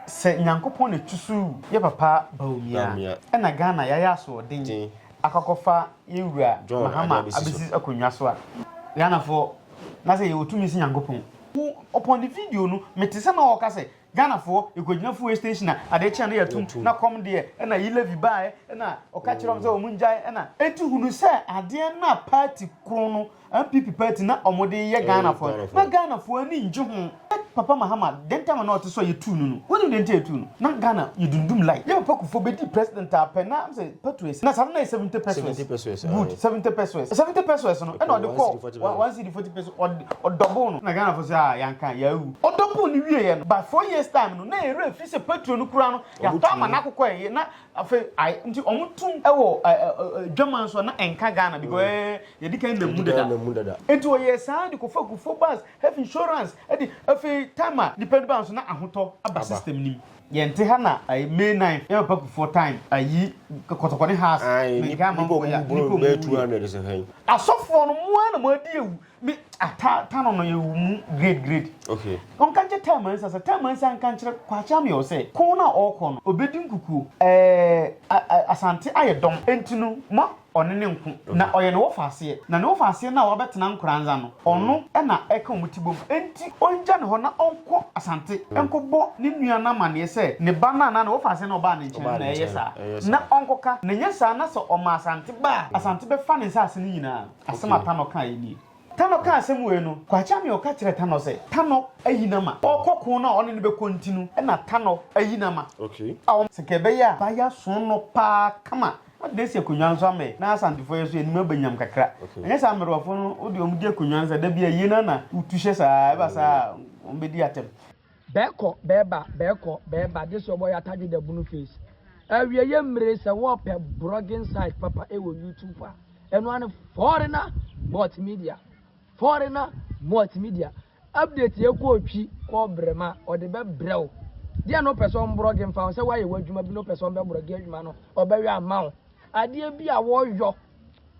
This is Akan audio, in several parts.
Sɛ Nyankopɔn na ɛtusuu yɛ papa Bawumia ɛna Ghana yɛayɛ asoɔden akɔ akɔfa yɛn wura Mahama abɛsi akonnwa so a, Ghanafoɔ, na sɛ yɛwɔ tumi se Nyankopɔn. Wo upon the video no mete sɛ na ɔɔka sɛ Ghanafoɔ yɛkɔgyina fuel station a adeɛ kye a na yɛatum na kɔm deɛ ɛna yi levy baɛ ɛna ɔka kyerɛ wɔn sɛ wɔn ngyae ɛna. Enti hunu sɛ adeɛ no a party koro no NPP party na ɔmo de yɛ Ghana foɔ no na Ghana foɔ ani ngye ho na papa Mahama den time a na ɔte so a yɛ tuu no no wonim den nti a yɛ tuu no na Ghana yɛ dundum like yɛ papa Kufuor bɛ di president a pɛ na sɛ petues na saa no na yɛ seventy pesues good seventy pesues seventy pesues no ɛna ɔde kɔɔ one cedi forty pesues ɔde ɔdɔbol no na Ghana foɔ sɛ aa yɛ anka yɛ awu ɔdɔbol no wie yɛ no by four years time no na yɛ werɛ firi sɛ petuo no koraa no yɛ atɔ ama no akokɔ yɛ na Afei ae nti wɔn tum wɔ dwaman so a na ɛnka Ghana because ɛɛ mm. eh, yɛde kan na mu dada nti wɔyɛ saa de kɔfa gu fo bus health insurance ɛde afei time a nipa de ba nso na ahotɔ aba system nim yɛn ti ha na ayi may nine yɛ papa kufoɔ time ayi kɔtɔkɔ ne house mɛ nka ama nkɔ ya nipa mu yɛ asɔfoɔ no mu ara na mu adi ewu me ah ta ta no no yɛ mu grade grade okay ɔnka nkyɛ ta mansa sɛ ta mansa nka nkyerɛ kwakye ame ɔ sɛ ko no a ɔrekɔ no ɔbɛdi nkukuo ɛɛ asante ayɛ dɔm ɛnti no ma ɔne ne nko na ɔyɛ ne wɔfa aseɛ na ne wɔfa aseɛ no a wabɛtena nkoranza no ɔno ɛna ɛka ɔmo ti bom ɛnti ɔngya ne hɔ na ɔnkɔ asante ɛnkɔbɔ ne nua no amaneɛ sɛ ne ba no anaa ne wɔfa aseɛ no ɔbaa ne nkyɛn na ɛyɛ saa na ɔnkɔka na nyɛ saa na sɛ ɔma asante baa asante bɛfa ne nsaase no nyinaa Asɛm a Tanɔ kaeɛ nie. Tanɔ kaa asɛm wei no, Kwakyeameɔn ka kyerɛɛ Tanɔ sɛ Tanɔ ayi no ama ɔrekɔ ko no a ɔne no bɛkɔ nti no na Tanɔ ayi no ama a wɔn sɛ ka ɛbɛyɛ a ba yi aso no pa ara kama na ɔde asi akonnwa nso ama yi na Asantefoɔ yi nso yɛn anim abɛnyam kakra. Anyɛ saa mmerewafoɔ no, wo deɛ wɔn gye akonnwa no saa, da biara yie no ara na wotu hyɛ saa a ɛba saa a wɔn bɛdi atɛm. Bɛɛkɔ bɛɛba bɛɛkɔ bɛɛba this your boy atadwe da bunu face awieɛ mmire sɛ wɔpɛ brogging site papa ɛwɔ YouTube a ɛno ara ne foreigner multimedia foreigner multimedia update yɛ kɔɔ twi kɔɔ brɛma ɔde bɛ brɛ wo deɛ no pɛ sɛ ɔm brogging fa ho sɛ woayɛ w'adwuma bi no pɛ sɛ ɔm bɛ brogging adwuma no ɔbɛyɔ ama wo adeɛ bi a wɔyɔ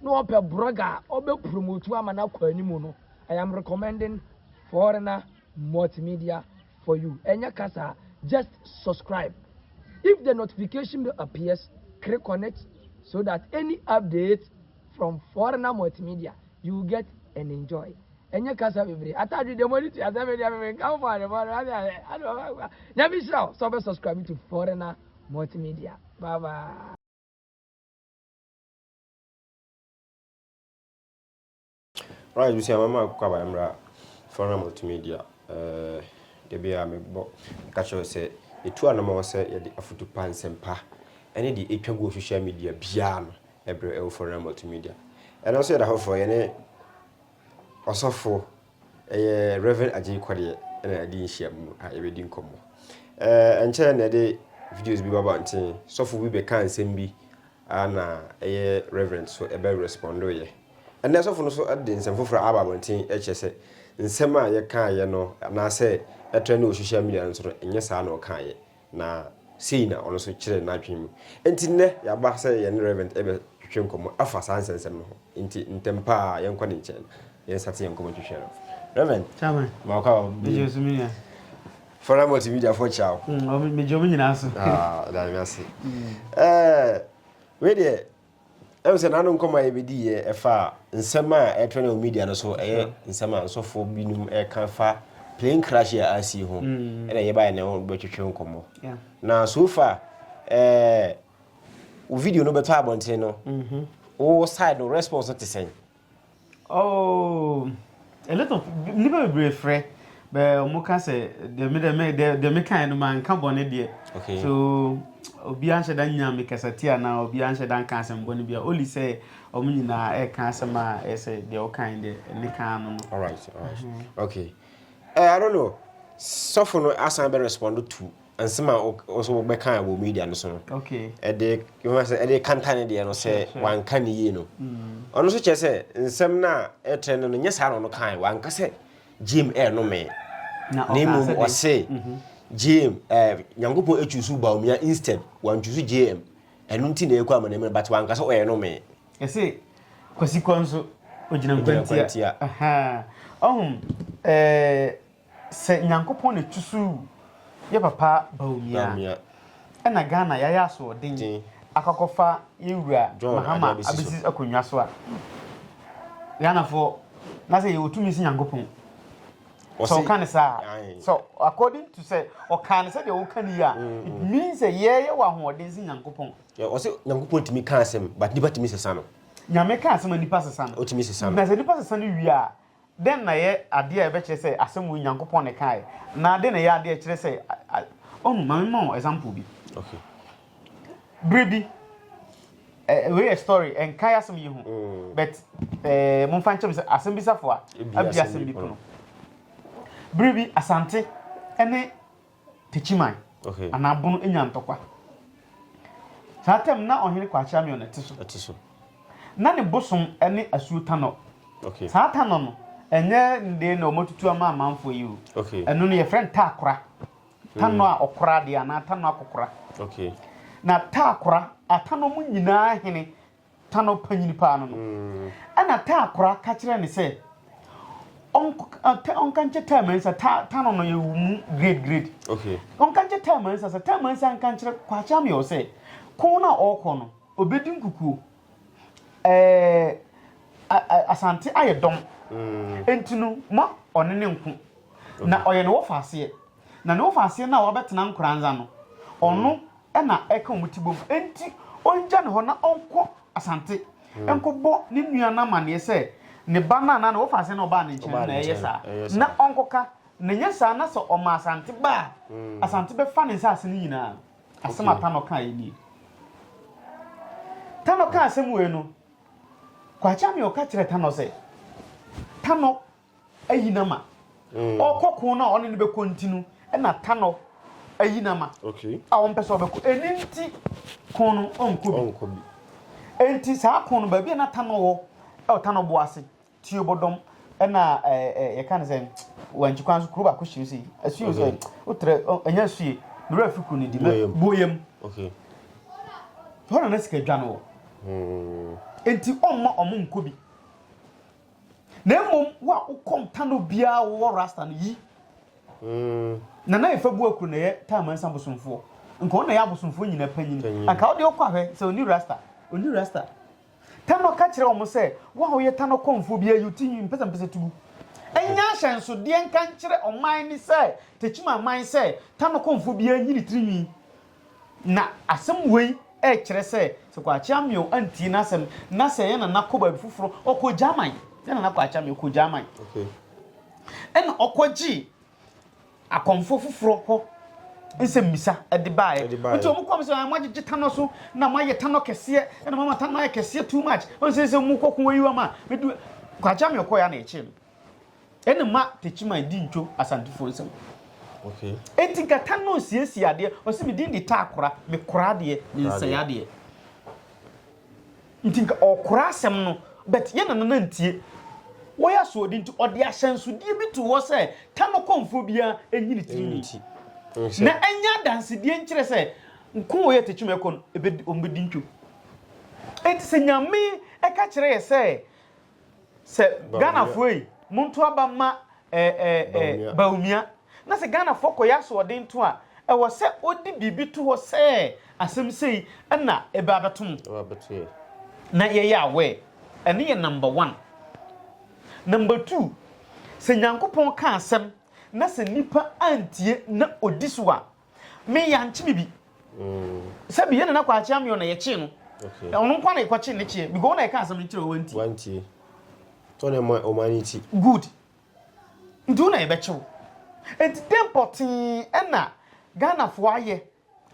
na ɔpɛ brogger a ɔbɛ promote ama no akɔ anim no I am recommending foreigner Multimedia for you ɛnyɛ kasa a just subscribe if the notification bell appears click on it so that any update from foreigner multimedia you will get and enjoy ɛnyɛ kasa bebree atadwe deɛ mo ani tua sɛ me deɛ me me nka fo ade fo ade ade ade ɔbɛkwa nyame hyira wo sɛ ɔbɛ subscribe to foreigner multimedia bye bye. Alright abusua mɛma akokɔ aba mmra fa hwɛ ma ɔtumi di a ɛɛ da biara mebɔ ka kyerɛ sɛ yɛtu anamɔ sɛ yɛde afutu pa nsɛm pa ɛne deɛ ɛtwa gu wɔ social media biara no ɛbrɛ ɛwɔ fa hwɛ ma ɔtumi di a ɛno nso yɛda foforɔ yɛne ɔsɔfo ɛyɛ Reverend Agye Kwadeɛ ɛna ɛde nhyia mu a yɛbɛdi nkɔmmɔ ɛɛ ɛnkyɛn na ɛde videos bi baba nten sɔfo bi bɛka nsɛm bi a na ɛyɛ Reverend so ɛbɛ respondo yɛ Ɛnnɛ sɔfo no nso de nsɛm foforo aba abɔnten kyerɛ sɛ nsɛm a yɛkaeɛ no anaasɛ ɛtrɛ no wɔ sohyial media no so no, ɛnyɛ saa na ɔkaeɛ, na sei na ɔno nso kyerɛɛ n'adwene mu. Enti nnɛ yɛaba sɛ yɛne Rev. rebɛtwetwe nkɔmmɔ afa saa nsɛnsɛm no ho, enti ntɛm pa ara yɛnkɔ ne nkyɛn na yɛnstate yɛn nkɔmmɔtwetwe no. Rev. Chairman, Mawokɔ a ɔbɛn. Megye wo so me nua. Fɔra Multimediafoɔ kyia wo. Mm, ɔmo- megye ɔmo nyinaa so. Ah, da me ase. Eh, wei deɛ Ɛhu sɛ n'ano nkɔmɔ a yɛbɛdi yɛ ɛfa nsɛm a ɛtrɛ no media no so ɛyɛ nsɛm a nsɔfo binom ɛka fa plane crash a asi ho mm. ɛna yɛbaeɛ na wobɛtwetwe nkɔmɔ na so far ɛɛ wo video no bɛtɔ abɔnten no mm-hmm. wo side no response no te sɛn Oh, a lot of nnipa bebree frɛ bɛ wɔn ka sɛ deɛ me deɛ me deɛ deɛ me kan no ma nka bɔne deɛ okay. so obi anhyɛ da nya me kasa ti anaa obi anhyɛ da nka asɛm bɔne bia oli sɛ wɔn nyinaa ɛka asɛm a ɛsɛ deɛ ɔkan deɛ ne kan no no. alright alright mm -hmm. okay uh, I don't know sɔfo no asan bɛ respond to Nsɛm a wɔsɛ wɔbɛka wɔ media no so no, ɛde yɛma sɛ ɛde kanta ne deɛ no sɛ wanka ne yie no. Mm. Ɔno nso kyerɛ sɛ nsɛm no a ɛtrɛ no no nyɛ saa na ɔno kae wanka sɛ Jim ɛrenome. Na mmom ɔse mhm. Jim ɛɛ Nyankopɔn atwi so Baumia instead wantwi so JM. Ɛno nti na ɛkɔ ama n'anim but wanka sɛ ɔyɛ nome. Ɛse kwasikɔ nso ogyina nkwantia. Ɔhom ɛɛ. Sɛ Nyankopɔn na ɛtusuu yɛ papa Bawumia ɛna Ghana yɛayɛ asoɔden akɔakɔfa yɛn wura Mahama abɛsi akonnwa so a, Ghanafoɔ na sɛ yɛwɔ tumi si Nyankopɔn. Sɛ ɔka ne saa sɛ according to sɛ ɔka ne sɛdeɛ woka ne yi a mm, it mm. means sɛ yɛyɛ wɔ ahoɔden si Nyankopɔn. Ɔsɛ Nyankopɔn tumi ka asɛm but nipa tumi sesa no. Nyame ka asɛm a nipa sesa no. Ɔtumi sesa no. Na sɛ nipa sesa no wie a Dɛn na ɛyɛ ade a ɛbɛkyerɛ sɛ asɛm wei Nyankopɔn na ɛkae, na dɛn na ɛyɛ ade a ɛkyerɛ sɛ Ɔno? Ma memma wo example bi. Okay. Bere bi, eh, wei yɛ story, ɛnkae asɛm yi ho, mm. but eh, momfa nkyɛm sɛ asɛm bi safo a abi asɛm bi pono. Bere bi, Asante ne Techiman anaa Bono anya ntɔkwa. Saa tam no na Ɔhene Kwakye Ameon na ɛte so. Na ne bosom ne Asuo Tanɔ. Saa Tanɔ no, ɛnyɛ ne deɛ na wɔatutu ama amanfoɔ yi o. Ɛno no, yɛfrɛ no Taakora. Tanɔ a ɔkora adeɛ anaa Tanɔ akɔkora. Na Taakora, Atanɔ mu nyinaa hene ta no panyin paa no no, ɛna ta akora ka kyerɛ no sɛ ɔnka nkyɛ ta mansa ta ta no no yɛ mu grade grade okay ɔnka nkyɛ ta mansa sɛ ta mansa nka nkyerɛ kwakyɛ amyɛ sɛ kɔn no a ɔrekɔ no ɔbɛdi nkukuo ɛɛ asante ayɛ dɔm mm. nti no ma ɔne ne nko na ɔyɛ ne wɔfa aseɛ Na nea ɔfa aseɛ no a wabɛtena nkoranza no, ɔno na ɛka wɔn ti bom. Enti ɔngya no hɔ na ɔnkɔ Asante nkɔbɔ ne nua no amanneɛ sɛ ne ba no a na nea ɔfa aseɛ no a ɔbaa ne nkyɛn no na ɛyɛ saa, na ɔnkɔka. Na ɛnyɛ saa na sɛ ɔma Asante ba a, Asante bɛfa ne nsaase no nyinaa. Asɛm a Tanɔ kaeɛ nie. Tanɔ kaa asɛm wei no, Kwakye Amee ɔka kyerɛɛ Tanɔ sɛ, Tanɔ, ayi no ama. Ɔkɔ ko no a ɔne no bɛkɔ nti no na Tanɔ ayi no ama a ɔmpɛ sɛ ɔbɛkɔ. Ɛni nti ko no ɔnkɔ bi. Enti saa ko no baabi a na Tanɔ wɔ ɛwɔ Tanɔ bo ase tiobɔdɔm ɛna yɛka no sɛ wankyi kwan so kuro baako hyɛ sɛ asuo sɛ wotrɛ ɛnyɛ asue mmerɛ afi kuro no di boyam hɔ na na sika dwa no wɔ enti ɔmma ɔmo nkɔ bi Na mmom wo a wo kɔm tane obiara wowɔ rasta no yi Nana Efa Buakuro na ɛyɛ Taa Mansa bosomfoɔ nka ɔno na ɛyɛ abosomfoɔ nyina panyin anka wode wokɔ ahwɛ sɛ ɔni rasta ɔni rasta Tanɔ ka kyerɛ wɔn sɛ wo a woyɛ Tanɔ kɔmfoɔ biara yi wo ti nwi mpɛsɛmpɛsɛ tugu ɛnyɛ ahyɛnsodeɛ nka nkyerɛ ɔman ne sɛ Tekyima aman sɛ Tanɔ kɔmfoɔ biara nyi ne tiri nwi Na asɛm wei rekyerɛ sɛ, sɛ Kwakye Ameaw antie n'asɛm na sɛ yɛn nana kɔ baabi foforɔ, ɔkɔ German, yɛn nana Kwakye Ameaw kɔ German, ɛna ɔkɔgyee akɔmfoɔ foforɔ hɔ nsɛmmisa de baeɛ. Nti wɔn kɔm sɛ, moagyegye tanɔ so na moayɛ tanɔ kɛseɛ, ɛna moama tanɔ ayɛ kɛseɛ too much, ɔnsɛ sɛ mokɔko ayi wɔn a, Kwakye Ameaw kɔeɛ a na ɛkyee no. Ɛna ma Techiman di ntwo Asantefoɔ nsam. Enti nkata no nsiesie adeɛ. Ɔse me din de taa kora, me kora adeɛ, me nsɛe adeɛ. Nti nka ɔkora asɛm no, but yɛ na nana ntie. Wɔyɛ asoɔdi nti ɔde ahyɛnsodeɛ bi to hɔ sɛ Tano kɔmfoɔ biara ɛnyi ne tirinwi. Na ɛnyɛ adansedeɛ nkyerɛ sɛ nko wɔyɛ Techiman ɛkɔ no, wɔbɛdi ntwo. Enti sɛ Nyame ɛka kyerɛ yɛ sɛ Sɛ Ghanafoɔ yi, monto aba mma Bawumia. Na sɛ Ghanafoɔ kɔyɛ asoɔden to a, ɛwɔ sɛ ɔde biribi to hɔ sɛ asɛm sei na ɛbɛ abɛto mo. Na yɛyɛ aware. Ɛno yɛ number one. Number two, sɛ Nyankopɔn ka asɛm na sɛ nnipa antie na ɔdi so a, Me yɛankye me bi sɛ bi yɛ nana kwakye ameɔ na yɛkyee no ɔno nko na yɛkɔkye ne kyeɛ because na yɛka asɛm no kyerɛ wanti wanti tɔ ne ma ɔma ne ti good nti wo na yɛbɛkyew nti dɛn pɔtee ɛna Ghanafoɔ ayɛ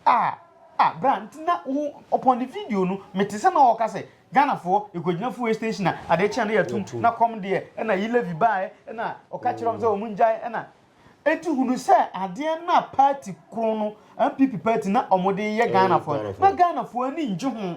a a bra nti na wo upon the video no mete sɛ na ɔka sɛ Ghanafoɔ ɛkɔgyina fuel station a adeɛ kyea no yɛatum na kɔm deɛ ɛna yi levy baɛ ɛna ɔka kyerɛ ɔm sɛ ɔmo ngyae ɛna Enti hunu sɛ adeɛ no a party koro no, NPP party, na wɔn de yɛ Ghanafoɔ no, na Ghanafoɔ ani nnye ho.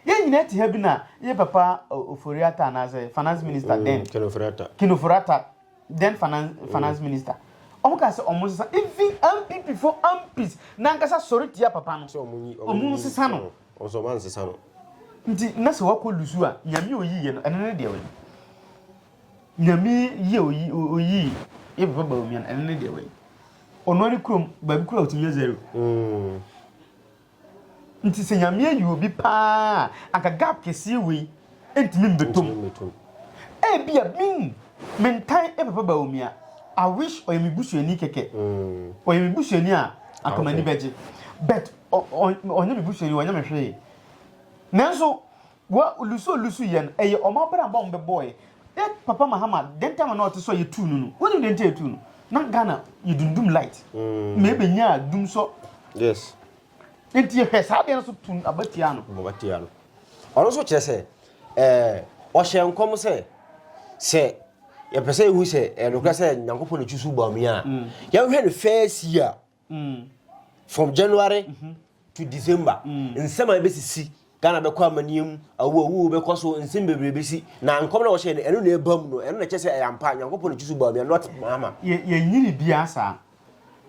Yɛn nyinaa te ha bi na yɛ papa Ofori Atta anaasɛ finance minister then, Kinofori Atta, then finance, finance minister. Wɔn ka sɛ wɔn sesa, even NPP fo MPs nankasa sɔre tia papa no, wɔn nsesa no. Ɔsɔ wɔn ansesa no. Nti na sɛ wakɔ lusu a, nyame oyi yɛ no, ɛno ne deɛ wɔyɛ. Nyame yi a oyi oyii yɛ papa Bawumia no ɛno ne deɛ wei ɔno ne kurom baabi kura otumi yɛ zero mm. nti sɛ nyame ayi obi paa anka gap kɛseɛ wei ntumi mbetom ebi a min mentan yɛ papa Bawumia I wish ɔyɛ me busuani kɛkɛ mm. ɔyɛ me busuani a anka m'ani bɛgye but ɔnyɛ me busuani ɔnyɛ me hwee nanso Wa lusu a ɔlusu yɛ no, ɛyɛ wɔn abrabɔ a wɔbɛbɔeɛ. Dɛ Papa Mahama, dɛn ntam na ɔte sɔ yɛtuu no no? Wonim dɛn nti a yɛtuu no? Na Ghana yɛdundum light ma ɛbɛnyaa dumsɔ. Yes. Nti yɛhwɛ saa adeɛ no so tu aba tiaa no. Aba tiaa no. Ɔno nso kyerɛ sɛ ɔhyɛ nkɔm sɛ sɛ yɛpɛ sɛ yɛhu sɛ ɛnokorɛ sɛ Nyankopɔn na ɛtu so bɔ amia a, yɛnhwɛ ne first year mm. from january mm -hmm. to december mm. nsɛm a ɛbɛsisi ghana bɛkɔ amanneɛ mu awo awo bɛkɔ so nsɛm bebree bɛsi na nkɔm na wɔhyɛ no ɛno na ɛba mu no ɛno na ɛkyɛ sɛ ɛyɛ ampa nyankopɔn ne kyi so baa mi not mama yɛnyi ne biaa saa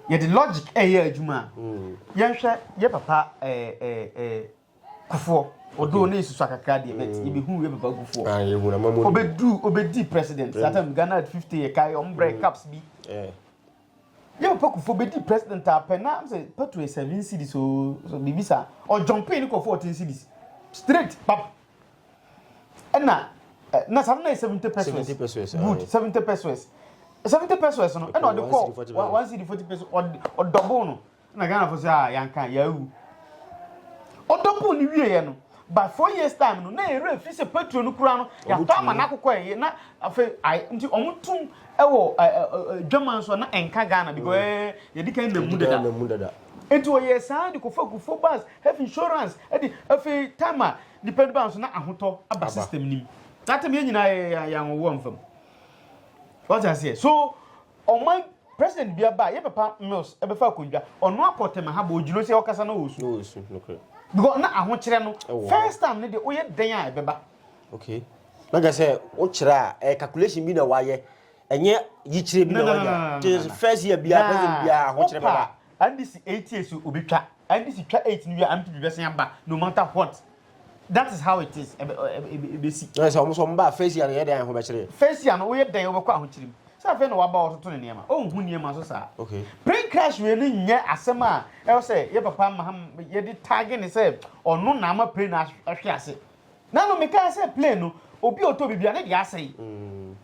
yɛde logic ɛyɛ adwuma mm. yɛnhwɛ yɛ papa eh, eh, eh, Kufuor, although okay. ne nsusua kakra deɛ but mm. yɛbɛhu yɛ papa Kufuor ah, yɛhu na mamu ɔbɛdu ɔbɛdi president that time Ghana at 50 yɛ kae ɔmo brɛ mm. caps bi eh. yɛ papa Kufuor bɛdi president apɛ na sɛ petrol yɛ seven cities o so biribi saa ɔjɔmpee ne kɔ fourteen cities straight pap ɛna eh, na saa na yɛ seventy pesos good seventy pesos seventy pesos no ɛna ɔde kɔ one city forty pesos ɔdɔbo no. na Ghana fo sɛ a yanka yawu ɔdɔ buu ne wieɛ no by four years time no na yɛrɛ afiri sɛ petro no kura no yɛatɔ ama no akokɔ ɛyɛ na afei nti ɔmo tum ɛwɔ dwama nso na ɛnka Ghana because ɛɛ yɛdi kan nam mu dada nti ɔyɛ saa de kɔfa kufo bus health insurance ɛde afei time a nipa no ba nso na ahotɔ aba system nim that time yɛn nyinaa yɛ yɛn anwɔwɔ mfam wɔte aseɛ so Ɔman President bia ba a yɛ papa Mills bɛfa akondwa. Ɔno akɔ tɛmɛ ha but ogyina ɔsi ɔkasa na ɔɔsu. Na ɔɔsu, nokorɛ. Because na ahokyerɛ no, first time no deɛ woyɛ dɛn a ɛbɛba. Okay. Na kyerɛ sɛ wokyerɛ a ɛyɛ calculation bi na wayɛ, ɛnyɛ yikyerɛ bi na wanya. No, no, no, no, no. First year bia, president bia ahokyerɛ bɛba. Wopa NDC eight years obi twa, NDC twa eight no wie a, NPP bɛsan aba no matter what. that is how it is ɛbɛ ɛbɛ ɛbɛsi. ɛɛ sɛ wɔn nso wɔn ba afeesia no yɛ dɛn ahobekyere. feesia no woyɛ dɛn wɔbɛkɔ ahokyere mu sɛ afei na waba ɔtoto ne nneɛma ɔnhu nneɛma so saa. okay plane crash wei no nyɛ asɛm a ɛwɔ sɛ yɛ papa maham yɛde taage ne sɛ ɔno na ama plane ahwe ase na no mekaa sɛ plane no obi a ɔtɔ biribi a ne deɛ asɛe. Mm.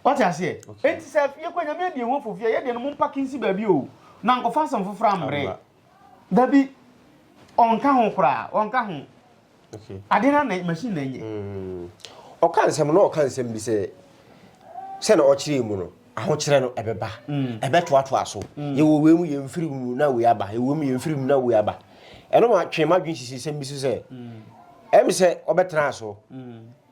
wate aseɛ enti sɛ yɛkɔ nyame adi ho afofie yɛdeɛ no mompake nsi baabi o na nkɔfa asɛm foforɔ ammerɛ Dabi, ɔnka ho koraa, ɔnka ho. Okay. Ade na na machine na nye. Mm. Ɔka nsɛm na ɔka nsɛm bi sɛ sɛ na ɔkyerɛ mu no ahokyerɛ no ɛbɛba mm. ɛbɛtoatoa so mm. yɛwɔ wei mu yɛ mfiri mu na wei aba yɛwɔ mu yɛ mfiri mu na wei aba ɛno ma twe ma dwen sisi sɛm bi so sɛ ɛm sɛ ɔbɛtena so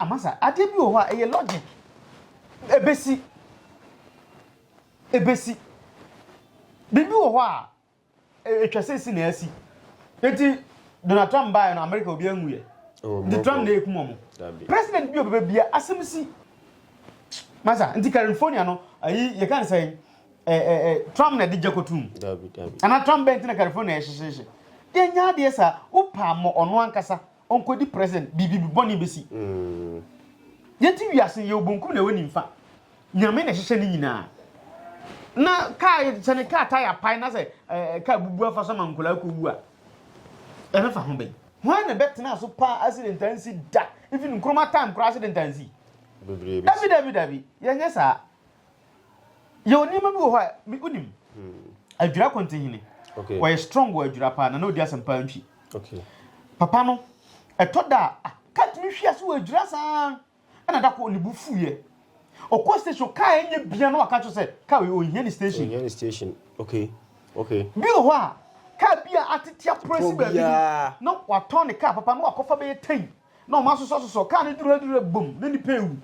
Amasa, adeɛ bi wɔ hɔ a ɛyɛ logic. Ɛbɛsi. Ɛbɛsi. Biribi wɔ hɔ a ɛtwa sɛ si na asi. Nti Donald Trump baeɛ no Amerika obi anwuiɛ. Nti Trump na ɛkum ɔmo. President bi ɔbɛbɛ bia asɛm si. Masa, nti California no, ayi yɛka ne sɛn, Trump na ɛde gya kɔtum. Ana Trump bɛn ti na California ɛhyehyehye. Yɛnyɛ adeɛ saa, wopɛ ammɔ ɔno ankasa. Ɔnkɔdi present biribi bɔne bɛsi. Yɛte wiase yɛwɔ bonkum na ɛwɔ nimfa. Nyame na ɛhyehyɛ ne nyinaa. Na kaa sɛ ne kaa tae apae na sɛ kaa bubu afa so ma nkwadaa kɔwu a ɛbɛfa ho bɛn? Hwan na ɛbɛtena so paa accident ansi da? Even Nkrumah time koraa accident ansi. Dabi dabi dabi yɛnyɛ saa. yɛwɔ nneɛma bi wɔ hɔ a me wonim adwira kɔntihene okay. wɔyɛ strong wɔ adwira paa na na ɔdi asɛm paa ntwi okay. papa no ɛtɔ da a katumi hwi ase wɔ adwira saa ɛna da kɔ ne bu fuiɛ ɔkɔ station kaa ɛnyɛ bia na waka kyerɛ sɛ kaa ɔnhia ne station ɔnhia ne station okay okay bi wɔ hɔ a kaa bi a atetea prɛsi baabi na watɔn ne kaa papa no wakɔfa bɛyɛ tɛn na wɔasosɔsosɔ kaa no duradura bom na nnipa rewu.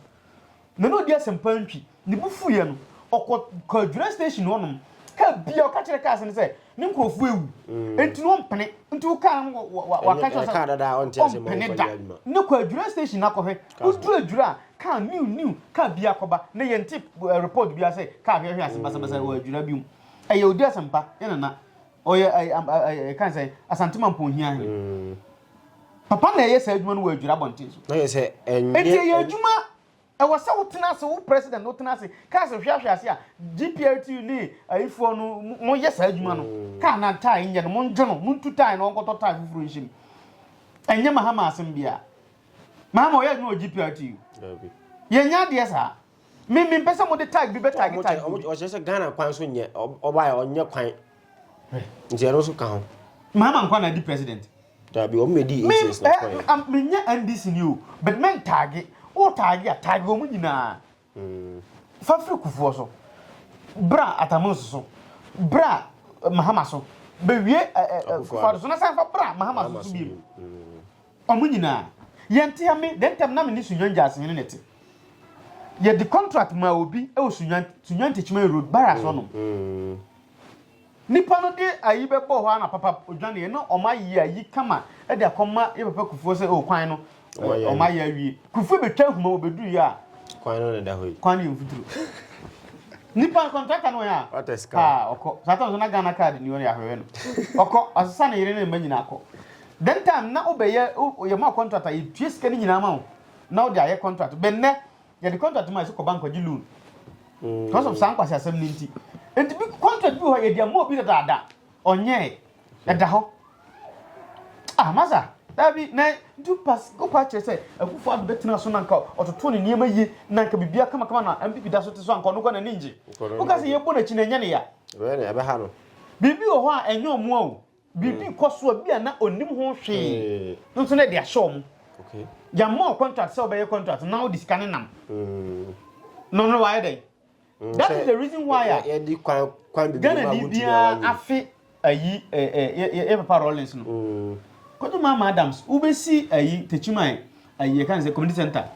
Na na ɔdi asɛmpa ntwi. Ne bo fuiɛ no, ɔkɔ kɔdwira station hɔnom. Kaa biara ɔka kyerɛ cars no sɛ ne nkurɔfoɔ awu. Enti na ɔmpene. Nti wo kaa no waka kyerɛ sɛ ɔmpene da. Ne kɔ adwira station no akɔhwɛ. Woduru adwira a, kaa new new kaa biara kɔba. Na yɛnte report biara sɛ kaa hwɛhwɛ ase basabasa wɔ adwira bi mu. Ɛyɛ ɔdi asɛmpa, yɛn nana. Ɔyɛ ɛkan sɛ Asanteman Pɔnhia he. Papa na ɛyɛ saa adwuma no wɔ adwira abɔnten so. Na yɛ sɛ ɛnyɛ. Eti ɛyɛ adwuma ɛwɔ sɛ wotena ase wo president no wotena ase kaa sɛ hwɛ ahwɛ ase a GPLTU ne ayifoɔ no mo yɛ saa adwuma no mm. kaa na tae nyɛ no mo ngye no mo ntu tae na ɔnkɔtɔ tae foforɔ nhyɛ mu ɛnyɛ mahama asɛm biara mahama ɔyɛ adwuma wɔ GPLTU yɛnyɛ adeɛ saa. Me me mpɛ sɛ mo de tag bi bɛ tag tag. Ɔmo ɔmo ɔkyerɛ sɛ Ghana kwan so nyɛ ɔbaa yɛ ɔnyɛ kwan. Nti ɛno nso ka ho. Mahama nkwa na di president. Dabi ɔmo na di ACS na kwan. Me me nyɛ NDC ni o but men tag o tag a tag ɔmo nyinaa. Fa firi kufuɔ so. Bra atamons so. Bra Mahama so. Bɛ wie kufuɔ so na san fa bra Mahama so so bi. Ɔmo nyinaa. Yɛn te ha me dɛ ntɛm na me ne Sunyani Gyaasehene na ɛte. Yɛ de contract maa obi ɛwɔ Sunyani, Sunyani Techiman Road, Barracks hɔ nom. Nipa no de ayi bɛ bɔɔ hɔ ara na papa odwane yɛ, na ɔmo ayɛ ayi kama ɛde akɔ ma yɛ papa Kufuor sɛ oh kwan no ɔmo ayɛ awie. Kufuor bɛ twa ahuma wɔ bɛ duru yɛ a. Kwan no na ɛda hɔ yi. Kwan no yɛ mfuturo. Nipa no contractor no wɔ hɛn a. Haa ɔkɔ. Saa tam nso na Ghana card ni hɔ no yɛ ahwɛhwɛ no. Ɔkɔ, ɔsesa ne yere ne ne mma nyinaa kɔ. Then time na wobɛyɛ yɛ ma contract a yɛtua sika no nyinaa ma wo na wode ayɛ contract bɛ nnɛ yɛde contract ma yɛ sɛ kɔ bank kɔgye loan because of saa nkwasi asɛm no nti nti bi contract bi hɔ yɛde ama obi dadaada ɔnyɛɛ ɛda hɔ ah masa dabi na nti pas wokɔ akyerɛ sɛ akufo ado bɛtena so na nka ɔtoto ne nneɛma yie na nka biribi akamakama na mpp da so te so anka ɔno kɔ n'ani ngye woka sɛ yɛbɔ n'akyi na ɛnyɛ ne ya biribi wɔ hɔ a ɛnyɛ ɔmoa o Biribi kɔ so a bi a na ɔnnim ho hwee no nso na ɛde ahyɛ wɔn. Yɛmmɔɔ contract sɛ ɔbɛyɛ contract na wode sika no nam. No no wayɛ dɛn? Mm, That is the reason why a Ghana ni biara afe ayi yɛ papa Rollins no. Mm. Kɔdu Mama Adams, wobɛsi ayi Techiman ayi ɛka ne sɛ community center.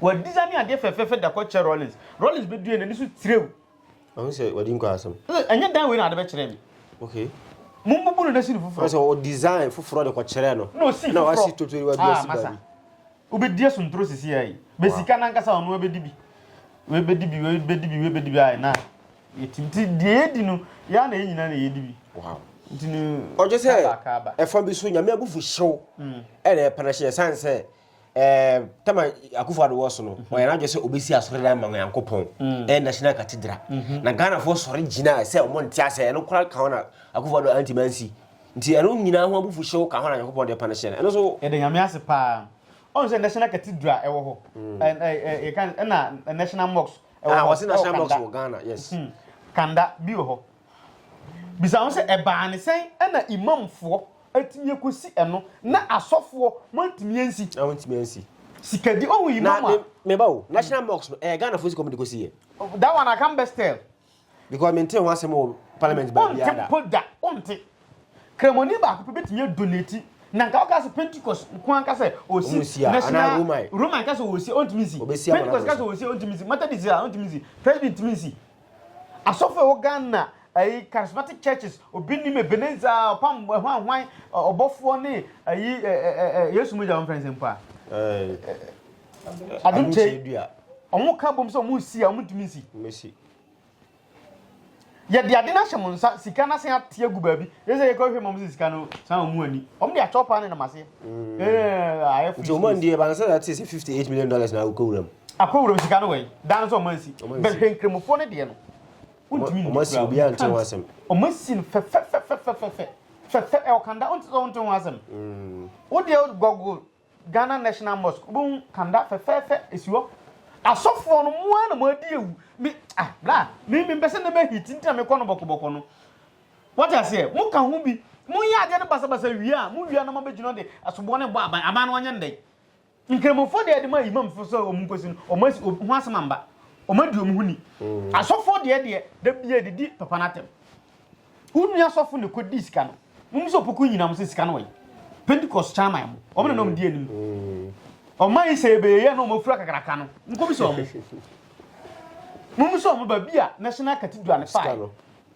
Wɔadisa ne adeɛ fɛfɛɛfɛ da kɔkyɛ Rollins. Rollins bɛdue n'ani so tirew Ɔno sɛ wadi nkwa asɛm. Ɛnyɛ dan wei na ade bɛkyerɛ me. Okay. Mo mbubu no na si no foforɔ. Sɛ o design foforɔ de kɔ kyerɛ no. Na osi foforɔ. Na wasi totori wa bi asi ba bi. Wobɛdi asontoro sisi ya yi. Bɛ sika nankasa ɔno abɛdi bi. Wei bɛdi bi, wei bɛdi bi, wei bɛdi bi ayɛ na. Yɛti nti deɛ yɛdi no yɛa na yɛ nyinaa na yɛdi bi. Wow. Nti no. Ɔgye sɛ ɛfa bi so nyame abufu hyew. Ɛna ɛpɛnɛ hyɛ san sɛ. um, tam a Akufo-Addo wɔ so no, mm-hmm. ɔyɛ n'adwene sɛ obesi asɔredan ma Onyankopɔn, mm. ɛyɛ National Cathedral. Mm-hmm. Na Ghanafoɔ sɔre gyina sɛ ɔmo nte asɛ ɛno koraa ka ho na Akufo-Addo antumi ansi. Nti ɛno nyinaa ho abufuhyew ka ho na Onyankopɔn de panish no. Ɛno so yɛde Nyame ase paa. Ɔno sɛ National Cathedral ɛwɔ hɔ. Mm. Yɛka ɛna National Mosque ɛwɔ ah, hɔ. Wɔsi National Mosque wɔ Ghana, yes. Hmm. Kanda bi wɔ hɔ. Bisa ho sɛ, 'Ɛbaa no sɛn na imamfoɔ atumi akɔsi ɛno, na asɔfoɔ moantumi ansi? Na wɔntumi ansi. Sika di ɔhu yi mama. Na me ba o, National Mosque no, ɛyɛ Ghana fo sika ɔmo de kɔsi yɛ. Oh, that one I can best tell. Because me nte ho asɛm wɔ parliament ba biara da. Ɔnte mpo da, ɔnte. Kremoni baako pɛ bɛtumi adonate na nka ɔka sɛ pentecost nko anka sɛ ɔsi national roman ka sɛ ɔsi ɔntumi nsi pentecost ka sɛ ɔsi ɔntumi nsi methodist a ɔntumi nsi presbyterian ntumi nsi Asɔfo a ɛwɔ Ghana, ayi charismatic churches, obi nim Ebenezer, ɔpam hwanhwan, ɔbɔfoɔ ne ayi Yesu mogya wɔn fɛnsɛn mpo a. Adum kyɛ wɔn ka bom sɛ wɔn nsi a wɔn ntumi nsi. Mmesi. Yɛde ade no ahyɛ mo nsa, sika no asen ate agu baabi. Yɛ sɛ yɛkɔ hwɛ ma wɔn sɛ sika no san wɔn ani. Wɔn de akyɛw paa ne nam aseɛ. Mm. Eh, ayɛ free. Nti ɔmo ndi yɛ bansa na te sɛ fifty eight million dollars na akɔ wuram. Akɔ wuram sika no wɛn dan no sɛ ɔmo ansi bɛhwɛ nkramofoɔ no deɛ no. Wontumi ndi kura ɔmo asi obi a nte ho asɛm. Ɔmo asi no fɛfɛfɛfɛfɛfɛ fɛfɛ ɛwɔ kanda ɔnte sɛ ɔnte ho asɛm. Mm. Wo deɛ gɔgo Ghana National Mosque wobɛhu kanda fɛfɛfɛ esi hɔ. Asɔfoɔ no mo ara na mo adi ewu. Mi ah bra mi mi mpɛ sɛ ne bɛ hiti ntina mi kɔ no bɔkɔbɔkɔ no. Wate aseɛ? Moka ho bi. Monyɛ adeɛ no basabasa wie a, mowia na moabɛgyina hɔ de asoboɔ no rebɔ aban. Aban no ɔnyɛ no dɛn? Nkramofoɔ deɛ de ma imamfoɔ sɛ wɔn nkɔsi no, wɔn asi wɔn ho asɛm amba. Wɔn adi wɔn ho ni. Mm. Asɔfoɔ deɛ deɛ da bia de di papa no atɛm. Wo nua asɔfo na kɔdi sika no. Mum sɛ opoku nyina mo sɛ sika no wɔyi. Pentecost kyan man mo. Wɔn na nom di anim. Ɔman yi sɛ ɛbɛyɛ na wɔn afura kakraka no. Nkɔbi sɛ wɔn. Mum sɛ wɔn ba bi a National Cathedral no fae.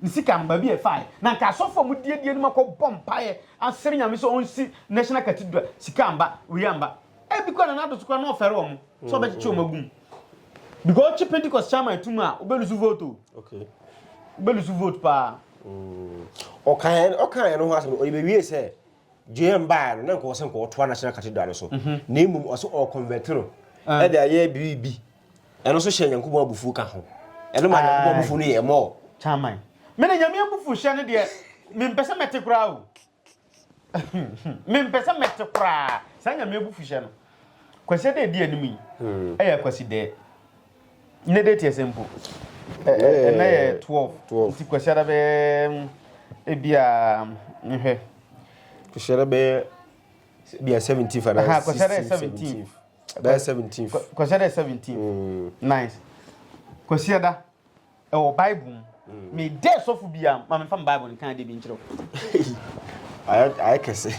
Ne sika no, baabi a ɛfaeɛ, na anka asɔfo a wɔdi adie no makɔ bɔ mpaeɛ asrɛ Nyame sɛ ɔnsi National Cathedral, sika amba, wei amba. Ebi koraa na n'ado so koraa na ɔfɛre wɔn sɛ ɔbɛkyekye wɔn agu mu. Because ɔkye Pentecost chairman atum a, ɔbɛlusu vote o. Okay. Ɔbɛlusu vote paa. Mm. Ɔkaeɛ ɔkaeɛ no ho asɛm no, ɔyɛbɛwie sɛ JM baa no na nka ɔsɛ nka ɔtoa National Cathedral no so. Mhm. Na mmom ɔsɛ ɔconvert no ɛde ayɛ biribi. Ɛno nso hyɛ Nyankopɔn abufuo ka ho. Ɛno maa Nyankopɔn abufuo no yɛɛ more. Kyaman. Me na Nyame abufuhyɛ no deɛ mempɛ sɛ mɛte koraa o. Mempɛ sɛ mɛte koraa saa Nyame abufuhyɛ no. Kwasi ɛda ɛdi anim yi ɛyɛ hmm. Kwasi dɛ. Nnɛ date ɛsɛ mpo. Ɛnɛ yɛ 12. Nti Kwasi ada bɛyɛ hmm, ebi a nhwɛ. Kwasi ada bɛyɛ bia 17 fa na 16 17. Ɛbɛyɛ seventeenth. Kɔ- Kwasi ada yɛ 17. Mm. Nice. Kwasi ada ɛwɔ Bible mu. Me dɛ sɔfo bi a ma memfa me Bible no kan de bi nkyerɛ wo. Ayɛ ayɛ kɛse.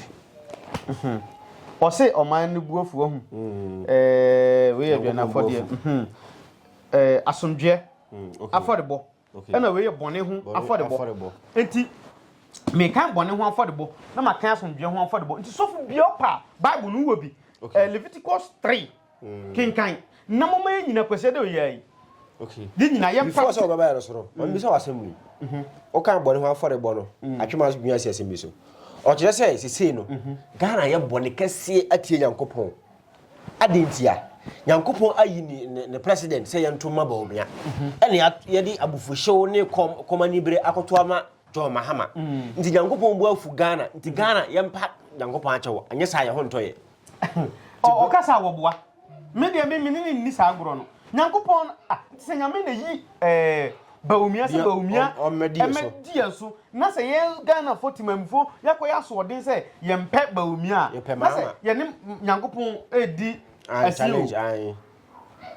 Ɔse ɔman no bu afu ahu. Mm. Ɛɛ wei yɛ Nyankopɔn aduanafɔdeɛ. bu Mhm. Ɛɛ asomdwoeɛ Mm, okay. afɔrebɔ. ɛna wei yɛ bɔne ho afɔrebɔ nti mekan bɔne ho afɔrebɔ na makan asomdwoeɛ ho afɔrebɔ nti sɔfo bia ɔpa bible no wɔ bi eh, leviticus 3 mm. kenkan na moma yɛ nyina kwasiɛ dɛ ɔyɛ yi yɛ nyina yɛ mpa sɛ wɔbɛbɛyɛ no soro ɔmbi sɛ wasɛm wei wokan mhm. bɔne ho afɔrebɔ no mm. atwema so dwuma si asɛm bi so ɔkyerɛ sɛ sesei no mhm. ghana yɛ bɔne kɛseɛ atie nyankopɔn Adɛn ntia? Nyankopɔn ayi ne, ne, ne president sɛ yɛnto mma Bawumia. Ɛne yɛde abufuhyew ne kɔm, kɔm anibere akoto ama John Mahama. Nti Nyankopɔn bu afu Ghana. Nti Ghana yɛmpa Nyankopɔn akyɛw. Anyɛ saa yɛn ho ntɔ yɛn. Ɔ, ɔka sɛ awɔboa. Me deɛ me, me ne ne nni saa agorɔ no. Nyankopɔn, ah, te sɛ Nyame na yi, eh, Bawumia sɛ Bawumia mmɛdi yɛn so na sɛ yɛn Ghanafo temamufo yɛakɔyɛ asoɔden sɛ yɛmpɛ Bawumia a na sɛ yɛne Nyankopɔn redi asi o.